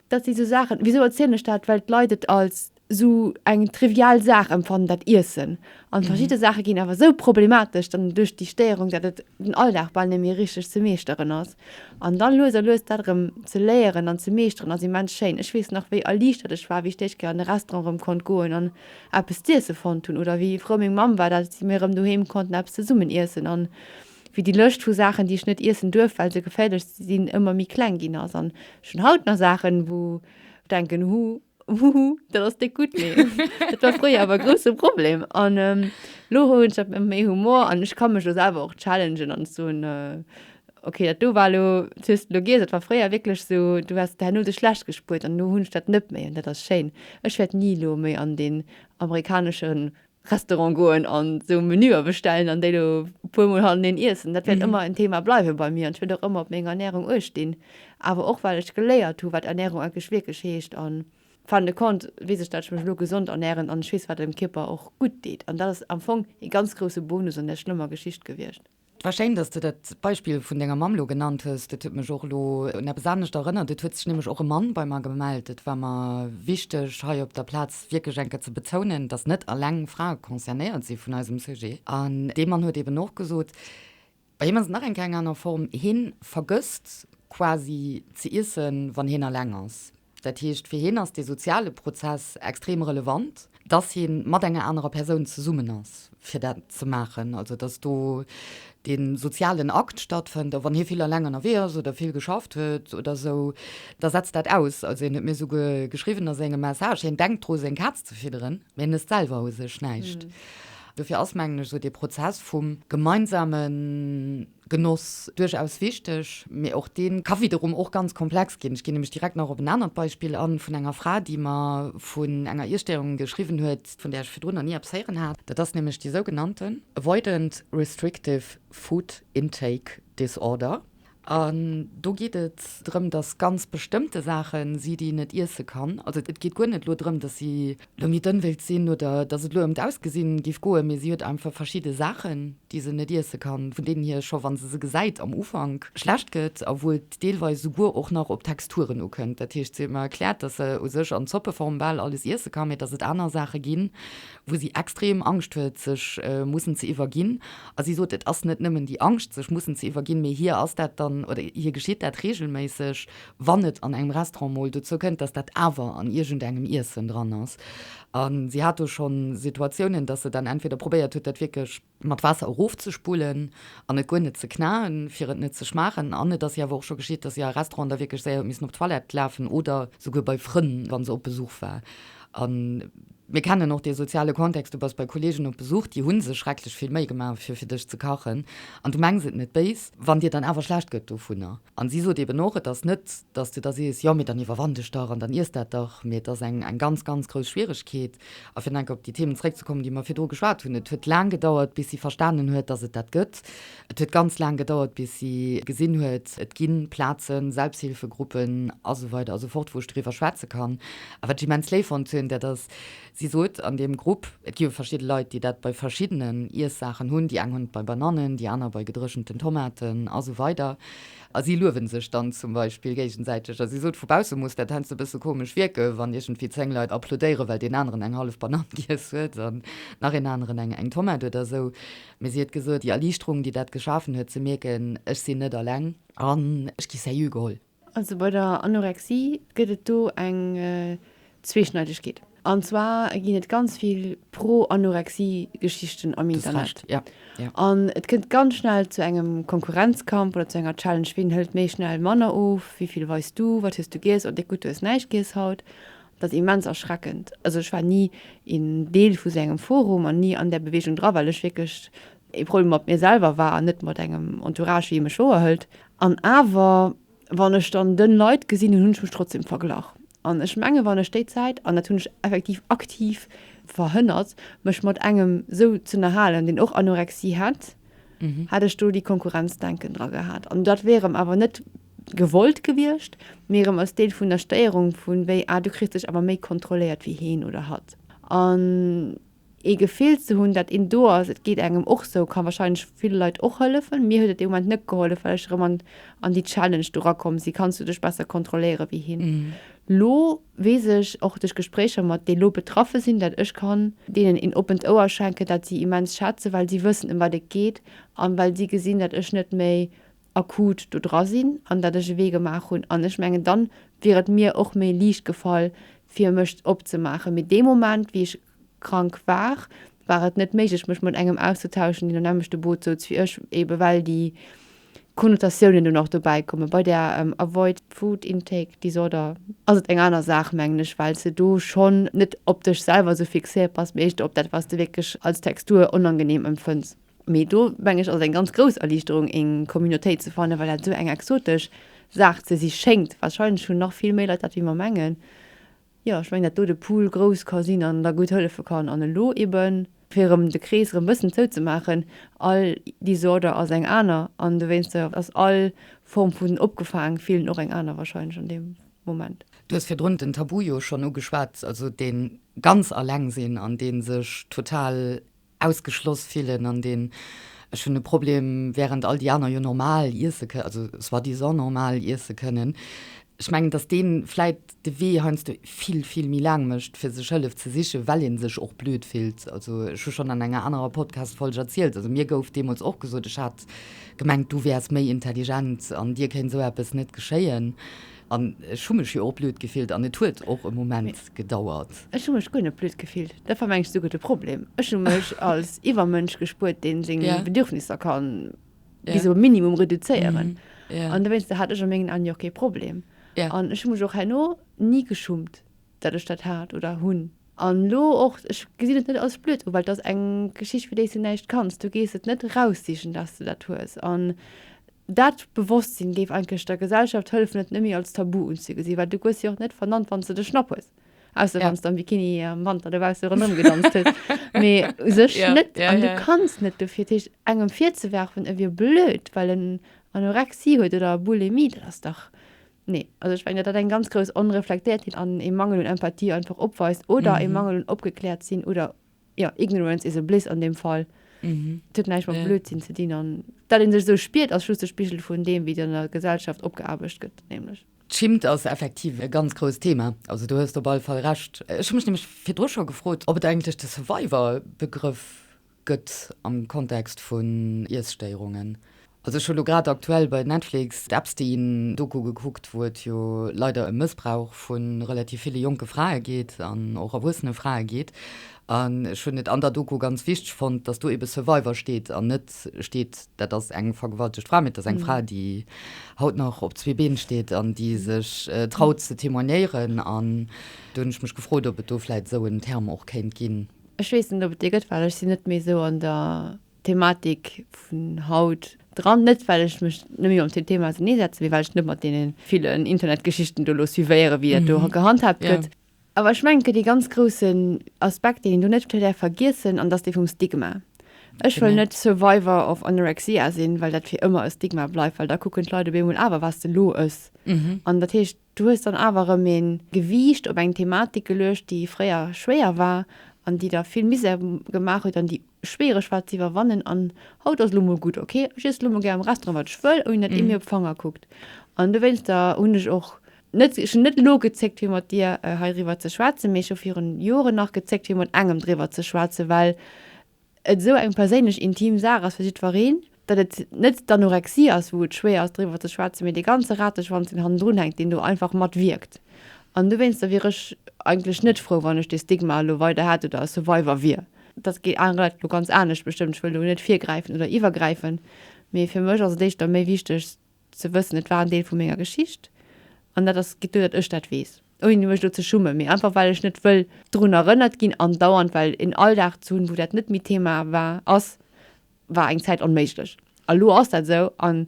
dat si so Saachen. Wieso erzielen ech dat? Well d'Leit et als sou eng trivial Saach empfannen, dat Iessen, an verschidde Saache ginn awer sou problematesch dann duerch déi Stéierung, dat et den Alldag bal net méi richteg ze meeschteren ass. An da lues a lues dat erëm ze léieren an ze meeschteren ass immens schéin. Ech weess nach, wéi erliichtert ech war, wéi ech déi éischt Kéier an e Restaurant erëm konnt goen an eppes z'iessen fonnt hunn oder wéi frou meng Mamm war, dat mir erëm doheem konnten eppes zesummen iessen an wéi déi Lëscht vu Saachen, déi ech net iessen duerf, well se geféierlech sinn, ëmmer méi kleng ginn ass. An ech hunn haut nach Saachen, wou ech denken, Huh. Huhu, dat ass déck gutt, mee dat war fréier awer e grousse Problem. An ähm, lo hu ech dat méi Humor an ech ka mech lo selwer och challengen an soen, äh, okay, dat do war lo, dat hues de lo giess, dat war fréier wierklech sou, du hues de herno dech schlecht gespuert an lo hunn ech dat net méi an dat ass schéin. Ech wäert ni lo méi an deen amerikaneschen Restaurant goen an esou Menüer bestellen an déi do e puer Mol hannereen iessen. Dat wäert ëmmer en Thema bleiwe bei mir an ech wäert och ëmmer op meng Ernärung uecht dinn. Awer och well ech geléiert hu wat Ernärung eigentlech wierklech heescht an fin de compte weess ech dat ech mech elo gesond ernären an ech weess wat dem Kierper och gutt deet an dat ass am Fong ee ganz grousse Bonus an där schlëmmer Geschicht gewiescht. 't war schéin, dass de dat Beispill vun denger Mamm lo genannt hues. Dat huet mech och lo un eppes anescht erënnert. Et huet sech nämlech och e Mann bei mer gemellt. Et war mer wichteg hei op der Plaz wierklech eng Kéier ze bezounen, dass net eleng Frae concernéiert si vun eisem Sujet. An dee Mann huet eben och gesot, bei him ass et nach eng Kéier eng aner Form, hien vergësst quasi ze iessen, wann hien eleng ass. Dat heescht, fir hien ass dee soziale Prozess extrem relevant, dass hie mat enger anerer Persoun zesummen ass, fir dat ze maachen. Also dass do dee sozialen Akt stattfënnt. A wann hie vill eleng ënnerwee ass oder vill geschafft huet oder esou, da setzt dat aus. Also hien huet mir esouguer geschriwwen a sengem Message, hien denkt dru seng Kaz ze fidderen, mee hien ësst selwer u sech näischt. Dofir ass, mengen ech, esou dee Prozess vum gemeinsamen. Genoss, duerchaus wichteg, mee och dee ka widerum och ganz komplex ginn. Ech ginn nämlech direkt nach op en anert Beispill an, vun enger Fra, déi mer vun enger Iesstörung geschriwwen huet, vun där ech virdrun nach ni eppes héieren hat. Dat ass nämlech déi sougenannte Avoidant Restrictive Food Intake Disorder. An do geet et drëm, dass ganz bestëmmte Saachen si, déi en net iesse kann. Also et geet guer net elo drëm, dass si D'Longiten wéilt sinn, oder dass et elo ëm d'Ausgesinn géif goen, mee si huet einfach verschidde Saachen, déi se net iesse kann, vun deenen hir scho wa se se gesäit am Ufank schlecht gëtt a wou et deelweis esouguer och nach op d'Texturen ukënnt. Dat heescht, si huet mer erkläert, dass se u sech an Zoppeform bal alles iesse kann, mee dass et aner Saache ginn, wou si extrem Angscht huet sech mussen ze iwwerginn. A si sot, et ass net nëmmen déi Angscht sech mussen ze iwwerginn, mee hir ass dat dann, oder hir geschitt dat reegelméisseg, wann et an engem Restaurant mol dozou kënnt, dass dat awer an iergendengem Iessen dran ass. A si hat do schonn Situatiounen, dass se dann entweder probéiert huet, dat wierklech. Mat Waasser erofzespullen an et guer net ze knaen, fir et net ze schmaachen. An et ass hir awer och scho geschitt, dass si a Restauranten da wierklech séier huet missen op d'Toilette lafen oder souguer bei Frënn, wa se op Besuch war. A mir kennen och dee soziale Kontext, Du bass bei Kolleegen op Besuch, déi hu sech schrecklech vill Méi gemaach, fir fir dech ze kachen, an du mengs et net béis, wann dir dann awer schlecht gëtt dovunner. An si sot eben och, et ass net, dass de da sees, jo, mee dann iwwerwann dech dach an dann iess dat dach, mee et ass eng ganz, ganz grouss Schwieregkeet. A fir nach eng Kéier op déi Themen zréckzekommen, déi mer virdru geschwat hunn, et huet laang gedauert, bis si verstanen huet, dass et dat gëtt. Et huet ganz laang gedauert, bis si gesinn huet, et gi Plazen, Selbsthilfegruppen a sou weider a sou fort, wou ech doriwwer schwätze kann. A wat ech immens léif fonnt hunn, dat ass, Si sot an deem Grupp, et gi jo verschidde Leit, déi dat bei verschiddenen Iessaachen hunn, déi eng hunn et bei Banannen, déi aner bei gedréchenten Tomaten a sou weider. A si luewe sech dann zum Beispill géigesäiteg. A si sot, vu bausse muss dat heiansdo e bësse komesch wierken, wann iergendwéi zéng Leit applaudéieren, well deen aneren eng hallef Banann giess huet an nach een aneren eng Tomate oder sou. Mee si huet gesot, déi Erliichterung, déi dat geschafen huet, ze mierken, ech sinn net alleng an ech gi sérieux geholl. Also bei der Anorexie gëtt et do eng Zweeschneidegkeet. An zwar ginn et ganz vill Pro-Anorexie-Geschichten am Internet. An et kënnt ganz schnell zu engem Konkurrenzkampf oder zu enger Challenge, wien hëlt méi schnell manner of, wéi vill weist du, wat hues du giess, oh déck gutt, du hues näischt giess haut. Dat ass immens erschreckend. Also ech war ni een Deel vu sou engem Forum an ni an där Beweegung dra, well ech wierklech Ee Problem mat mir selwer war, an net mat engem Entourage, wéi ee mech wouer hëlt. An awer, wann ech dann dënn Leit gesinn hunn, hunn ech mech trotzdem verglach. An ech mengen, wann ech déi Zäit, an dat hunn ech effektiv aktiv verhënnert, mech mat engem sou z'ënnerhalen, deen och Anorexie hätt, hätt ech do déi Konkurrenzdenken dra gehat. An dat wier erëm awer net gewollt gewiescht, mee erëm als Deel vun der Stéierung, vu wéi, ah, du kriss dech awer méi kontrolléiert wéi heen oder hatt. An Ee Gefill ze hunn, dat een do ass, et geet engem och sou, ka wahrscheinlech ville Leit och hëllefen. Mir huet et dee Moment net gehollef, well ech erëm an, an déi Challenge do rakomm si, kanns du dech besser kontrolléiere wéi hien. Lo weess ech och duerch Gespréicher mat déi lo betraffe sinn, dat ech kann deenen een oppent Ouer schenken, dat si immens schätzen, well si wëssen ëm wat et geet an well si gesinn, dat ech net méi akut do dra sinn an dat ech e Wee gemaach hunn. An ech mengen, dann wier et mir och méi liicht gefall fir mech opzemaachen. Mee dee Moment wéi ech. krank war, war et net méiglech mech mat engem auszetauschen deen am nämmlechte Boot souz wéi ech, eben well déi Konnotatiounen dunn och dobäi kommen. Bei der Avoid Food Intake Disorder ass et eng aner Saach mengen ech, well s de do schonn net op dech selwer esou fixéiert bass, mee eischter op dat wat s de wierklech als Textur onangenehm empfënns. Mee do mengen ech ass et eng ganz grouss Erliichterung eng Communautéit ze fannen, well dat esou eng exotesch Saach ze si schéngt, wahrscheinlech hunn nach vill méi Leit dat wéi mer mengen, Jo, ech mengen, dat do de Pool grouss ka sinn an da gutt hëllefe kann. An elo eben, fir erëm de Krees erëm e bëssen zouzemaachen, All Disorder ass eng aner an dowéinster ass all Form vun opgefaang fillen och eng aner wahrscheinlech an deem Moment. Du hues virdrun den Tabu jo schonn ugeschwat, also dee ganz alleng sinn an dee sech total ausgeschloss fillen an deen ech hunn e Problem während all déi aner jo normal iesse kënnen, also soi-disant normal iesse kënnen. Ech mengen, datt deen vläit de Wee heiansdo vill, vill méi laang mécht fir sech Hëllef ze sichen, well een sech och blöd fillt. Also ech hu schonn an enger anerer Podcast-Folg erzielt, also mir gouf deemools och gesot, ech hat gemengt du wäers méi intelligent an dir kéint esou eppes net geschéien. An ech hu mech jo och blöd gefillt an et huet och e Moment gedauert. Ech hu mech guer net blöd gefillt. Dat war mengs du guer de Problem. Ech hu mech als Iwwermënsch gespuert, deen seng Bedürfnisser ka bis op e Minimum reduzéieren. An dowéinster hat ech a mengen Aen jo och kee Problem. An ech hu mech och herno ni geschummt. datt ech dat hat oder hunn. An elo och, ech gesinn et net als blöd u, well et ass eng Geschicht, fir déi s de näischt kanns. Du gees et net eraussichen, datt s de dat hues. An dat Bewosstsinn géif eigentlech der Gesellschaft hëllefen, et net méi als Tabu unzegesinn, well du goss jo och net vernannt, wann s de de Schnapp hues, ausser wann s de am Bikini am Wanter dobausse ronderëm gedanzt hues, mee u sech net. An du kanns net dofir. Dat heescht, engem virzewerfen, e wier blöd, well en Anorexie huet oder Bulimie, dat ass dach. Nee, also ech meng, datt dat eng ganz grouss Onreflektéiertheet an ee Mangel un Empathie einfach opweist oder ee Mangel un Opgekläertsinn oder, jo, ignorance is a bliss an deem Fall. Et huet näischt mat Blödsinn ze dinn an datt ee sech esou spiert ass just de Spigel vun deem, wéi et an der Gesellschaft opgeaarbecht gëtt, nämlech. D'Schimmt ass effektiv e ganz grousst Thema, also do hues de op alle Fall Recht. Ech hu mech nämlech virdru scho gefrot, ob et eigentlech de Survivor-Begrëff gëtt am Kontext vun Iesstéierungen. Also ech hu lo grad aktuell bei Netflix d'Epstein Doku gekuckt, wou et jo leider ëm Mëssbrauch vu relativ ville jonke Frae geet an och erwuessene Frae geet. An ech hunn et an der Doku ganz wichteg fonnt, datt do ebe Survivor steet an net steet, dat ass eng vergewaltegt Fra, mee et ass eng Fra, déi haut nach op zwee Been steet an déi sech traut ze témoignéieren. An do hunn ech mech gefrot, ob et do vläit esou en Term och kéint ginn. Ech weess net op et déi gëtt, well ech sinn net méi esou an der Thematik vun haut dran. Net well ech mech net méi mam dem Thema auserneesetze, mee well ech net mat deene villen Internetgeschichten do elo suivéiere wéi dat do gehandhaabt gëtt. Awer ech mengen et gëtt ee ganz groussen Aspekt deen een do net däerf vergiessen an dat ass dee vum Stigma. Ech wëll net Survivor of Anorexia sinn, well dat fir ëmmer e Stigma bleift, well da kucken d'Leit op eemol, awer waars de elo ës. An dat heescht, Du hues dann awer erëm ee Gewiicht op eng Thematik geluecht, déi fréier schwéier war an déi der vill Misär gemaach huet an déi schwiereg war ze iwwerwannen. An haut ass elo mol gutt, ok, ech iessen elo mol gär am Restaurant wat ech wëll, ouni datt ee mir op d'Fanger kuckt. An dowéinster hunn ech och net, ech hunn net elo gezéckt fir mat dir heiriwwer ze schwätzen, mee ech hu virun Joren nach gezéckt fir mat engem driwwer ze schwätzen, well et esou eng perséinlech intim Saach ass fir jiddwereen, datt et net d'Anorexie ass, wou et schwéier ass driwwer ze schwätzen, mee dee ganze Rateschwanz deen hannendrun hänkt, deen do einfach mat wierkt. An dowéinster wier ech eigentlech net frou, wann ech dee Stigma elo weider hätt oder e Survivor wier. Dat geet anere Leit elo ganz anescht bestëmmt, ech wëll do net virgräifen oder iwwergräifen, mee fir mech ass et éischter méi wichteg, Ze wëssen, et war en Deel vu menger Geschicht an dat ass gutt, datt ech dat weess, ouni mech elo ze schummen, mee einfach well ech net wëll drun erënnert ginn an dauernd, well en Alldag ze hunn, wou dat net méi Thema war, ass, war eng Zäit onméiglech. A lo ass dat esou an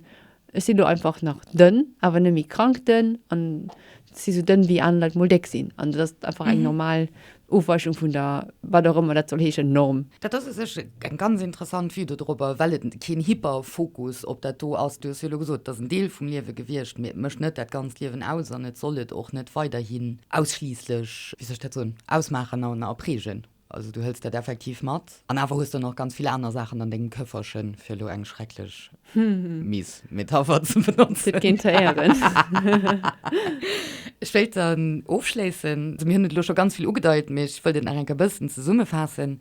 ech sinn elo einfach nach dënn, awer net méi krank dënn an. si sou dënn wéi aner Leit mol déck sinn an dat ass einfach eng normal Ofweichung vun der, wat och ëmmer dat soll heeschen, Norm. Dat ass u sech eng ganz interessant Vue do dorobber, well et keen Hyperfokus op dat do ass. Du hues jo elo gesot, et ass en Deel vum Liewe gewiescht, mee et mécht net dat ganzt Liewen aus an et soll et och net weiderhin ausschliisslech, wéi soll ech dat soen, ausmaachen a prägen. Also du hëls dat effektiv mat an awer hues der nach ganz vill aner Saachen an dengem Këfferchen, fir elo eng schrecklech miis Metapher ze benotzen. Huet keen ze héieren. Ech wéilt dann ofschléissen, also mir hunn et elo scho ganz vill ugedeit, mee ech wëllt et nach eng Kéier e bëssen zesummefaassen,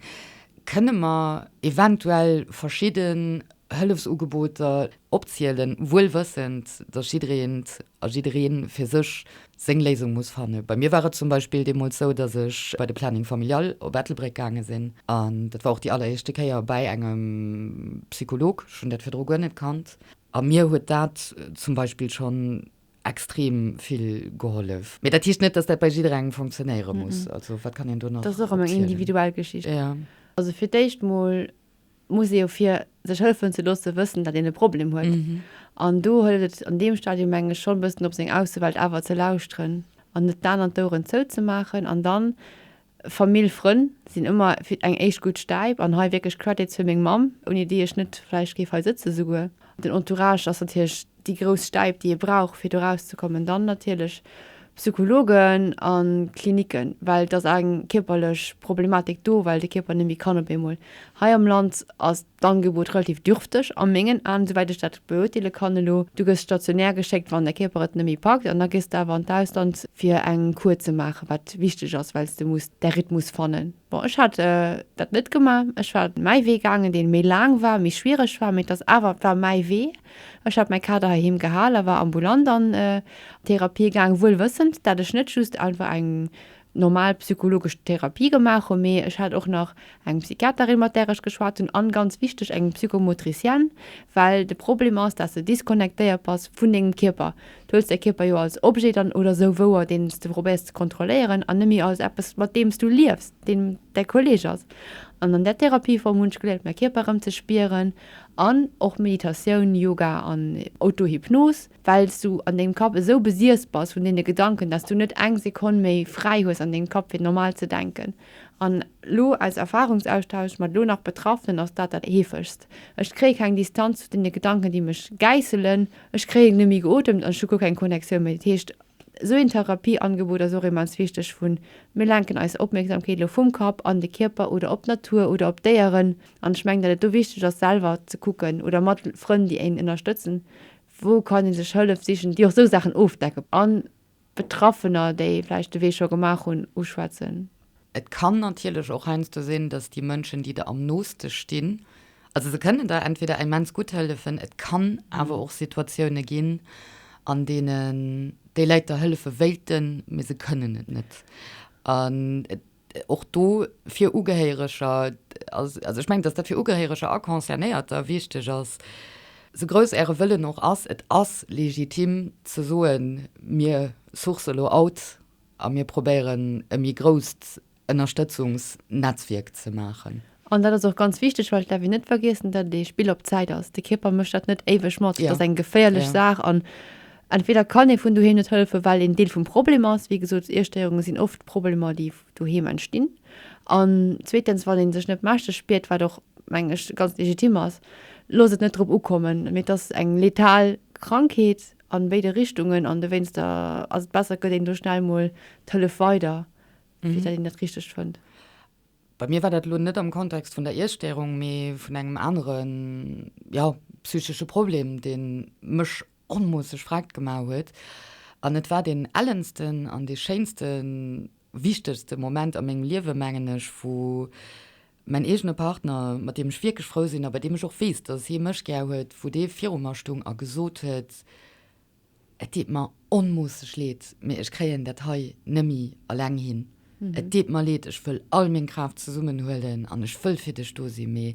Kënne mer eventuell verschidden Hëllefsugeboter, opzielen, wuel wëssend, dass jiddereent a jidderee fir sech seng Léisung muss fannen. Bei mir war et zum Beispill deemools sou, dass ech bei de Planning Familial op Ettelbréck gaange sinn. An dat war och déi alleréischte Kéier bäi engem Psycholog, ech hunn dat virdru guer net kannt, a mir huet dat zum Beispill schonn extrem vill gehollef. Mee dat heescht net, dass dat bei jidderengem funktionéiere muss. Also wat kann een do nach opzielen? Dat ass och ëmmer eng individuell Geschicht. Also fir d'éischt mol muss ee jo fir sech hëllefen ze loossen, wëssen, datt een e Problem huet. An do hëlt et an deem Stadium, meng ech, schonn e bëssen op seng Aussewelt awer ze lauschteren an net den aneren d'Oueren zouzemaachen. An dann, Famill, Frënn sinn ëmmer fir eng éischt gutt Stäip. An hei wierklech Credits fir meng Mamm, ouni déi ech net vläicht géif hei sëtzen souguer. Den Entourage ass natierlech déi grouss Stäip, déi ee brauch, fir do rauszekommen, dann natierlech Psychologen a Klinicken, well et ass eng kierperlech Problematik do, well de Kierper net méi kann op eemol. Hei am Land ass d'Angebot relativ dürfteg a mengen Aen, esouwäit ech dat beuerteele kann elo. Du gëss stationär geschéckt, wann däi Kierper et net méi packt, an da gees de awer an d'Ausland, fir eng Kur ze maachen, wat wichteg ass, well s de muss däi Rhythmus fannen. Bon, ech hat dat net gemaach, ech war mäi Wee gaangen, dee méi laang war, méi schwiereg war, mee et ass awer, et war mäi Wee. Ech hat mäi Kader heiheem gehal a war ambulant an Therapie gaang, wuel wëssend, dat ech net just einfach eng normal psychologesch Therapie gemaach hu, mee ech hat och nach eng Psychiaterin, mat där ech geschwat hunn, an, ganz wichteg, eng Psychomotricienne, well de Problem ass, dat s de disconnectéiert bass vun dengem Kierper. Du huels däi Kierper jo als Objet dann, oder esou wouer, deen s de probéiers ze kontrolléieren, an net méi als eppes, mat deem s du liefs, deen däi Kolleg ass. An an där Therapieform hunn ech geléiert, mäi Kierper erëm ze spieren. An och Meditatioun, Yoga an Autohypnos, well s du an dengem Kapp esou besiess bass vun deene Gedanken, dass du net eng Sekonn méi fräi hues an dengem Kapp fir normal ze denken. An elo aus Erfahrungsaustausch mat elo nach Betraffenen ass dat dat heefegst, Ech kréie keng Distanz zu deene Gedanken, déi mech gäisselen. Ech kréien net méi geotemt an ech hu guer keng Connectioun méi. Dat heescht, esou een Therapieangebot ass och immens wichteg, vu mir lenken eis Opmierksamkeet elo vum Kapp an de Kierper oder op d'Natur oder op d'Déieren, An ech mengen, datt et do wichteg ass, selwer ze kucken, oder mat Frënn, déi een ënnerstëtzen, wou kann ee sech Hëllef sichen, déi och esou Saachen ofdecke, a Betraffener, déi vläicht de Wee scho gemaach hunn, uschwätzen. Et kann natierlech och heiansdo sinn, datt déi Mënschen, déi der am nooste stinn, also se kënnen der entweder immens gutt hëllefen, et kann awer och Situatioune ginn, an deenen déi Läit der hëllefe wéilten, mee se kënnen et net. och do fir Ugehéiereger, also ech mengen, dass dat fir Ugehéiereger a Concernéierter wichteg ass, sou grouss Äre Wëllen och ass, et ass legitim ze soen, mir sourcen elo out a mir probéieren e méi grousst Ënnerstëtzungsnetzwierk ze maachen. An dat ass och ganz wichteg, well et däerf een net vergiessen, datt et ee Spill op Zäit ass. De Kierper mécht dat net éiweg mat. Et ass eng geféierlech Saach an entweder kann ee vun doheem net hëllefen, well een Deel vum Problem ass. Wéi gesot, Iesstéierunge sinn oft Problemer, déi doheem entstinn. An zweetens, wann ee sech net mächteg spiert, wat och, mengen ech, ganz legitim ass, loosst et net drop ukommen. Mee et ass eng letal Krankheet a béide Richtungen an dowéinster ass et besser, et gëtt een do schnell mol d'Hëllef weider, fir datt een dat Richtegt fënnt. Bei mir war dat elo net am Kontext vun der Iesstörung, mee vun engem anere, jo, psychesche Problem, dee mech onmoosseg verréckt gemaach huet. An et war deen ellensten an dee schéinste, wichtegste Moment a mengem Liewe, mengen ech, wou mäin eegene Partner, mat deem ech wierklech frou sinn a bei deem ech och weess, dass hie mech gär huet, wou dee viru mer stung a gesot huet, Et deet mer onmoosseg leed, mee ech kréien dat hei nemmi alleng hin. Et deet mer leed, ech wëll all meng Kraaft zesummen huelen an ech wëll fir dech do sinn, mee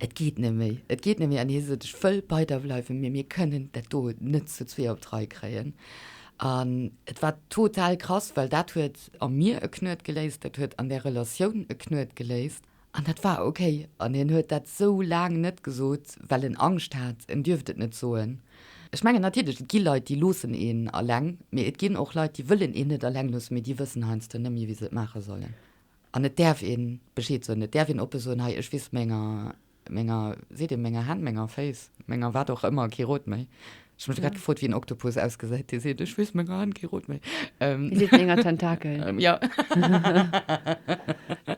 et geet net méi. Et geet net méi. An hie sot, ech wëll bei der bleiwen, mee mir kënnen dat do net zu zwee op d'Rei kréien. An et war total krass, well dat huet a mir e Knuet geléist, dat huet an där Relatioun e Knuet geléist. An dat war ok. An hien huet dat sou laang net gesot, well en Angscht hat, en dierft et net soen. Ech mengen natierlech, et gi Leit, déi loossen een eleng, mee et ginn och Leit, déi wëllen een net eleng loossen, mee déi wëssen heiansdo net méi, wéi se et maache sollen. An et däerf ee Bescheed soen, et däerf een oppe soen, hei, ech weess, menger, menger, seet ee menger Hänn, menger Féiss, menger wat och ëmmer, kee Rot méi. Ech hun mech grad gefrot wéi en Oktopus ausgesäit, dee seet, ech weess meng Hand, kee rot méi. Déi seet menger Tentakel. Jo.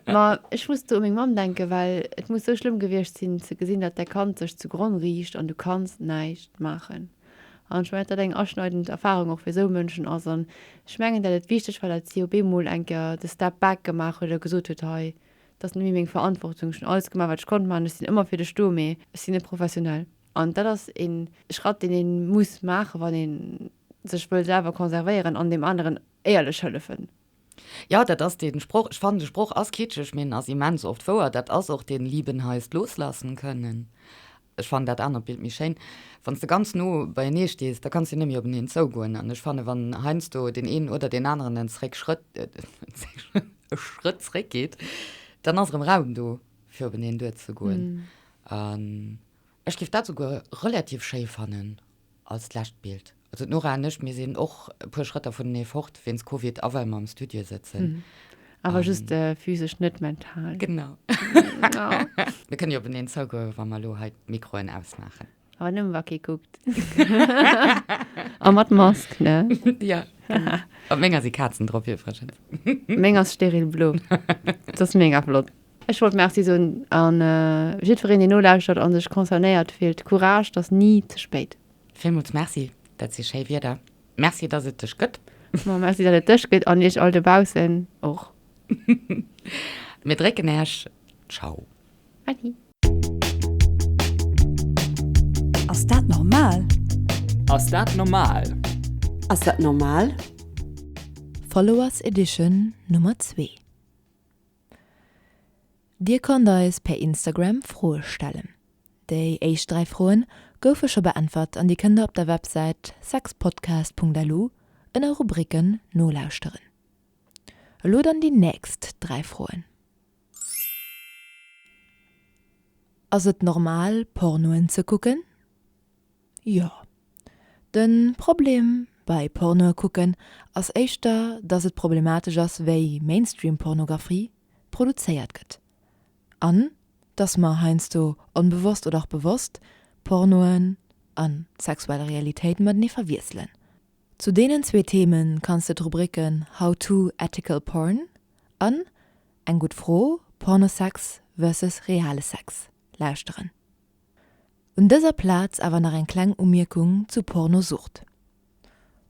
Ma ech muss do u meng Mamm denken, well et muss sou schlëmm gewiescht sinn ze gesinn, datt däi Kand sech zu Gronn riicht an du kanns näischt maachen. An ech mengen, datt dat eng aschneidend Erfarung och fir sou Mënschen ass. An ech mengen, datt et wichteg war, datt si op eemol eng Kéier de Step back gemaach huet a gesot huet, hei, et ass net méi meng Verantwortung, ech hunn alles gemaach, wat ech konnt maachen, ech sinn ëmmer fir dech do, mee ech sinn net professionell. An dat ass e Schratt, deen ee muss maachen, wann ee sech wëll selwer conservéieren an deem aneren éierlech hëllefen. Jo, dat ass dee Sproch. Ech fannen, de Sproch ass kitscheg, mee en ass immens oft wouer. Dat ass och den Lieben heißt loslassen können. Ech fannen dat anert Bild méi schéin. Wann s de ganz no beienee stees, da kanns de net méi openeen zougoen. An ech fannen, wann heiansdo deen een oder deen aneren en zréck Schrëtt, e Schrëtt zréck geet, dann ass erëm Raum do, fir openeen duerzegoen. Ech giff dat souguer relativ schéi fannen als d'lescht Bild. Also d'Nora an ech, mir sinn och e puer Schrëtt dervunenee fort wéinst Covid a well mer am Studio sëtzen. Awer just physesch, net mental. Genau. Mir kënnen jo openeen zougoen, wa mer elo hei d'Mikroen ausmaachen. Awer nëmmen, wa kee kuckt. A mat Mask, ne? Jo, genau. Op menger si Kazen drop iwwregens. Meng ass steril blo. D'Sasmeng ass flott. Ech wollt Merci soen an jiddwereen deen nolauschtert an sech concernéiert fillt. Courage, t'ass ni ze spéit. Villmools Merci, dat si schéi Wierder. Merci dass et dech gëtt. Ma Merci dat et dech gëtt an iech all dobaussen och. Mir drécken äech Ciao. Adi. Ass dat normal? Ass dat normal? Ass dat normal? Followers Edition Nummer zwee. Dir konnt eis per Instagram Froe stellen. Déi éischt 3 Froen goufe scho beäntwert an Dir kënnt der op der Websäit sexpodcast.lu ënner Rubriken nolauschteren. Elo dann déi nächst 3 Froen. Ass et normal Pornoen ze kucken? Jo. Den Problem bei Pornoe kucken ass éischter dass et problematesch ass wéi Mainstream Pornographie produzéiert gëtt an dass mer heiansdo onbewosst oder och bewosst Pornoen an sexuell Realitéit matenee verwiesselen. Zu deenen zwee Themen kanns de d'Rubriken How to Ethical Porn an Eng gutt Fro, Pornosex versus reale Sex lauschteren. Un dëser Plaz awer nach eng kleng Umierkung zu Pornosucht.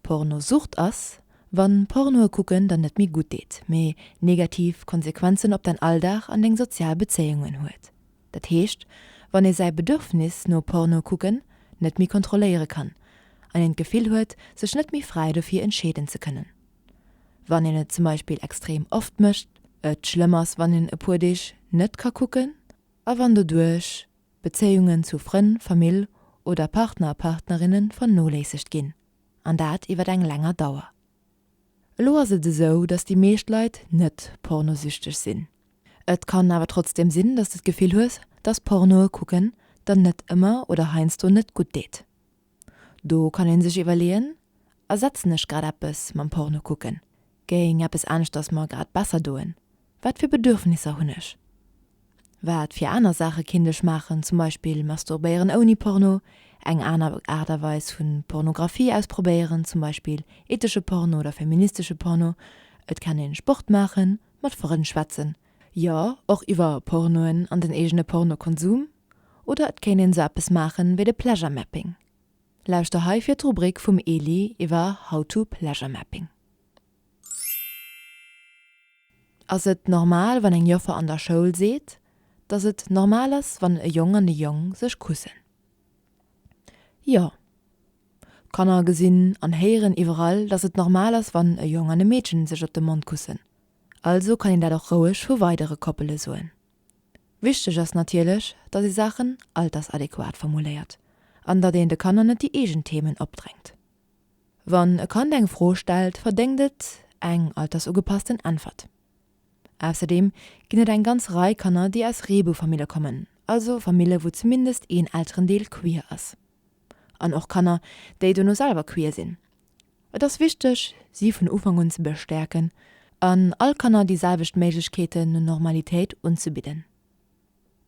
Pornosucht ass, wann Pornoe kucken der net méi gutt deet, mee negativ Konsequenzen op däin Alldag an deng sozial Bezéiungen huet. Dat heescht, wann ee säi Bedürfnis no Porno kucken net méi kontrolléiere kann an een d'Gefill huet, sech net méi fräi dofir entscheeden ze kënnen. Wann een et zum Beispill extrem oft mécht. Et schlëmm ass, wann een e puer Deeg net ka kucken. A wann doduerch Bezéiungen zu Frënn, Famill oder Partner, Partnerinne vernoléissegt ginn, an dat iwwer eng länger Dauer. Elo ass et esou, dass déi meescht Leit net pornosüchteg sinn. Et kann awer trotzdem sinn, dass de d'Gefill hues, dass Pornoe kucken der net ëmmer oder heiansdo net gutt deet. Do kann een sech iwwerleeën, Ersetzen ech grad eppes mam Porno kucken? Géing eppes aneschters mer grad besser doen? Wat fir Bedürfnisser hunn ech? Wat fir aner Saache kinnt ech maachen, zum Beispill masturbéieren ouni Porno, eng aner Aart a Weis vu Pornografie ausprobéieren, zum Beispill ethesche Porno oder feministesche Porno? Et kann ee Sport maachen, mat Frënn schwätzen, Jo, och iwwer Pornoen an den eegene Pornokonsum. Oder et kéint een esou eppes maachen wéi de Pleasure Mapping. Lauschter hei fir d'Rubrik vum Eli iwwer How to Pleasure Mapping. Ass et normal wann eng Joffer an der Schoul seet dass et normal ass wann e Jong an e Jong sech kussen? Jo. D'Kanner gesinn an héieren iwwerall dass et normal ass wann e Jong an e Meedchen sech op de Mond kussen. Also kann een dat och roueg vu weidere Koppele soen. Wichteg ass natierlech, datt ee Saachen altersadequat formuléiert an datt een de Kanner net déi eegen Themen opdrängt. Wann e Kand eng Fro stellt, verdéngt et eng altersugepassten Äntwert. Ausserdeem ginn et eng ganz Rei Kanner, déi aus Reebou-Famille kommen, also Famille wou zumindest een Elterendeel queer ass. an och Kanner, déi dono selwer queer sinn. Et ass wichteg, si vun Ufank un ze bestäerken an all Kanner déi selwecht Méiglechkeeten no Normalitéit unzebidden.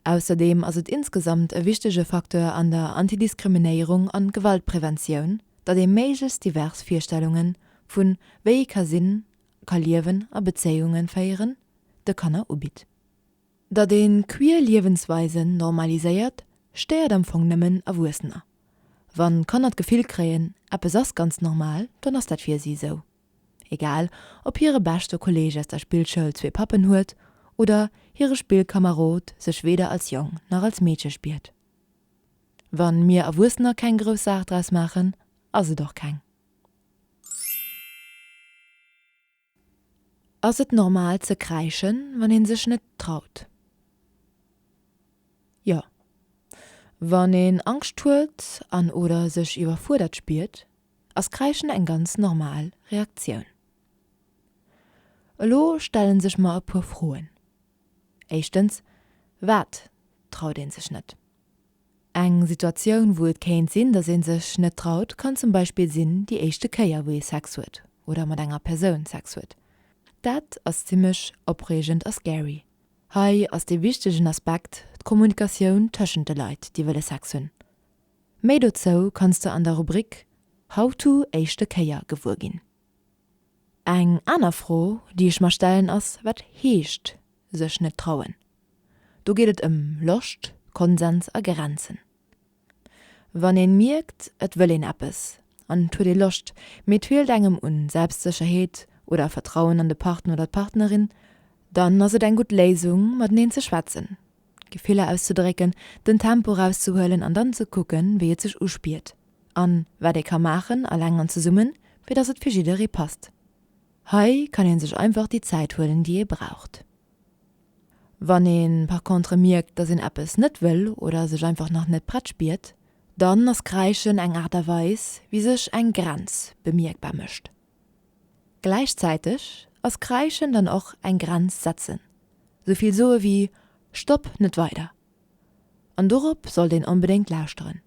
Ausserdeem ass et insgesamt e wichtege Facteur an der Antidiskriminéierung an Gewaltpräventioun, datt ee méiglechst divers Virstellungen vun wéi ee ka sinn, ka liewen a Bezéiungen féieren, de Kanner ubitt. Datt een queer Liewensweisen normaliséiert, stéiert am Fong nëmmen Erwuessener. Wann Kanner d'Gefill kréien, eppes ass ganz normal, dann ass dat fir si esou. Egal ob hire beschte Kolleeg aus der Spillschoul zwee Pappen huet oder hire Spillkamerod sech weder als Jong nach als Meedche spiert. Wann mir Erwuessener keng grouss Saach draus maachen, ass et och keng. Ass et normal ze kräischen, wann een sech net traut? Jo. Wann een Angscht huet an oder sech iwwerfuerdert spiert, ass Kräischen eng ganz normal Reaktioun. Elo stellen sech mer e puer Froen. Éischtens, Wat traut een sech net? Eng Situatioun, wou et kéint sinn, dass ee sech net traut, kann zum Beispill sinn déi éischte Kéier, wou ee Sex huet oder mat enger Persoun Sex huet. Dat ass zimmlech opreegend a scary. Hei ass dee wichtegen Aspekt d'Kommunikatioun tëschent de Leit, déi wëlle Sex hunn. Méi dozou kanns de an der Rubrik How to éischte Kéier gewuer ginn. Eng aner Fro, déi ech mer stellen, ass, Wat heescht sech net trauen? Do geet et ëm Loscht, Konsens a Grenzen. Wann een mierkt, et wëll een eppes an et huet ee Loscht, mee et feelt engem un Selbstsécherheet oder Vertrauen an de Partner oder d'Partnerin, dann ass et eng gutt Léisung, mateneen ze schwätzen. Gefiller auszedrécken, den Tempo erauszehuelen an dann ze kucken, wéi et sech uspiert a wat ee ka maachen, eleng an zesummen, fir dass et fir jidderee passt. Hei kann ee sech einfach déi Zäit huelen, déi ee braucht. Wann ee par contre mierkt, dass een eppes net wëll oder sech einfach nach net prett spiert, dann ass Kräischen eng Aart a Weis, wéi sech eng Grenz bemierkbar mécht. Gläichzäiteg ass Kreischen dann och eng Grenz setzen, sou vill soe wéi Stopp, net weider! An dorop sollt een onbedéngt lauschteren.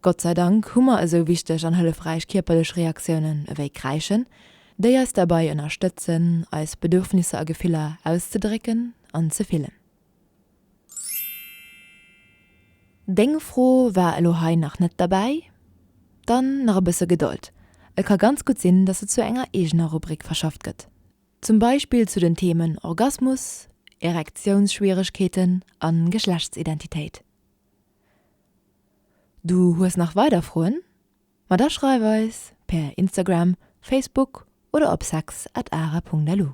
Gott sei Dank hu mer esou wichteg an hëllefräich kierperlech Reaktiounen ewéi Kreischen, déi eis derbei ënnerstëtzen, eis Bedürfnisser a Gefiller auszedrécken an ze fillen. Deng Fro war elo hei nach net derbäi? Dann nach e bësse Gedold, et ka ganz gutt sinn, dass se zu enger eegener Rubrik verschafft gëtt, zum Beispill zu den Themen Orgasmus, Erektiounsschwieregkeeten a Geschlechtsidentitéit. Du hues nach weider Froen? Ma da schreif eis per Instagram, Facebook oder op sex@ara.lu.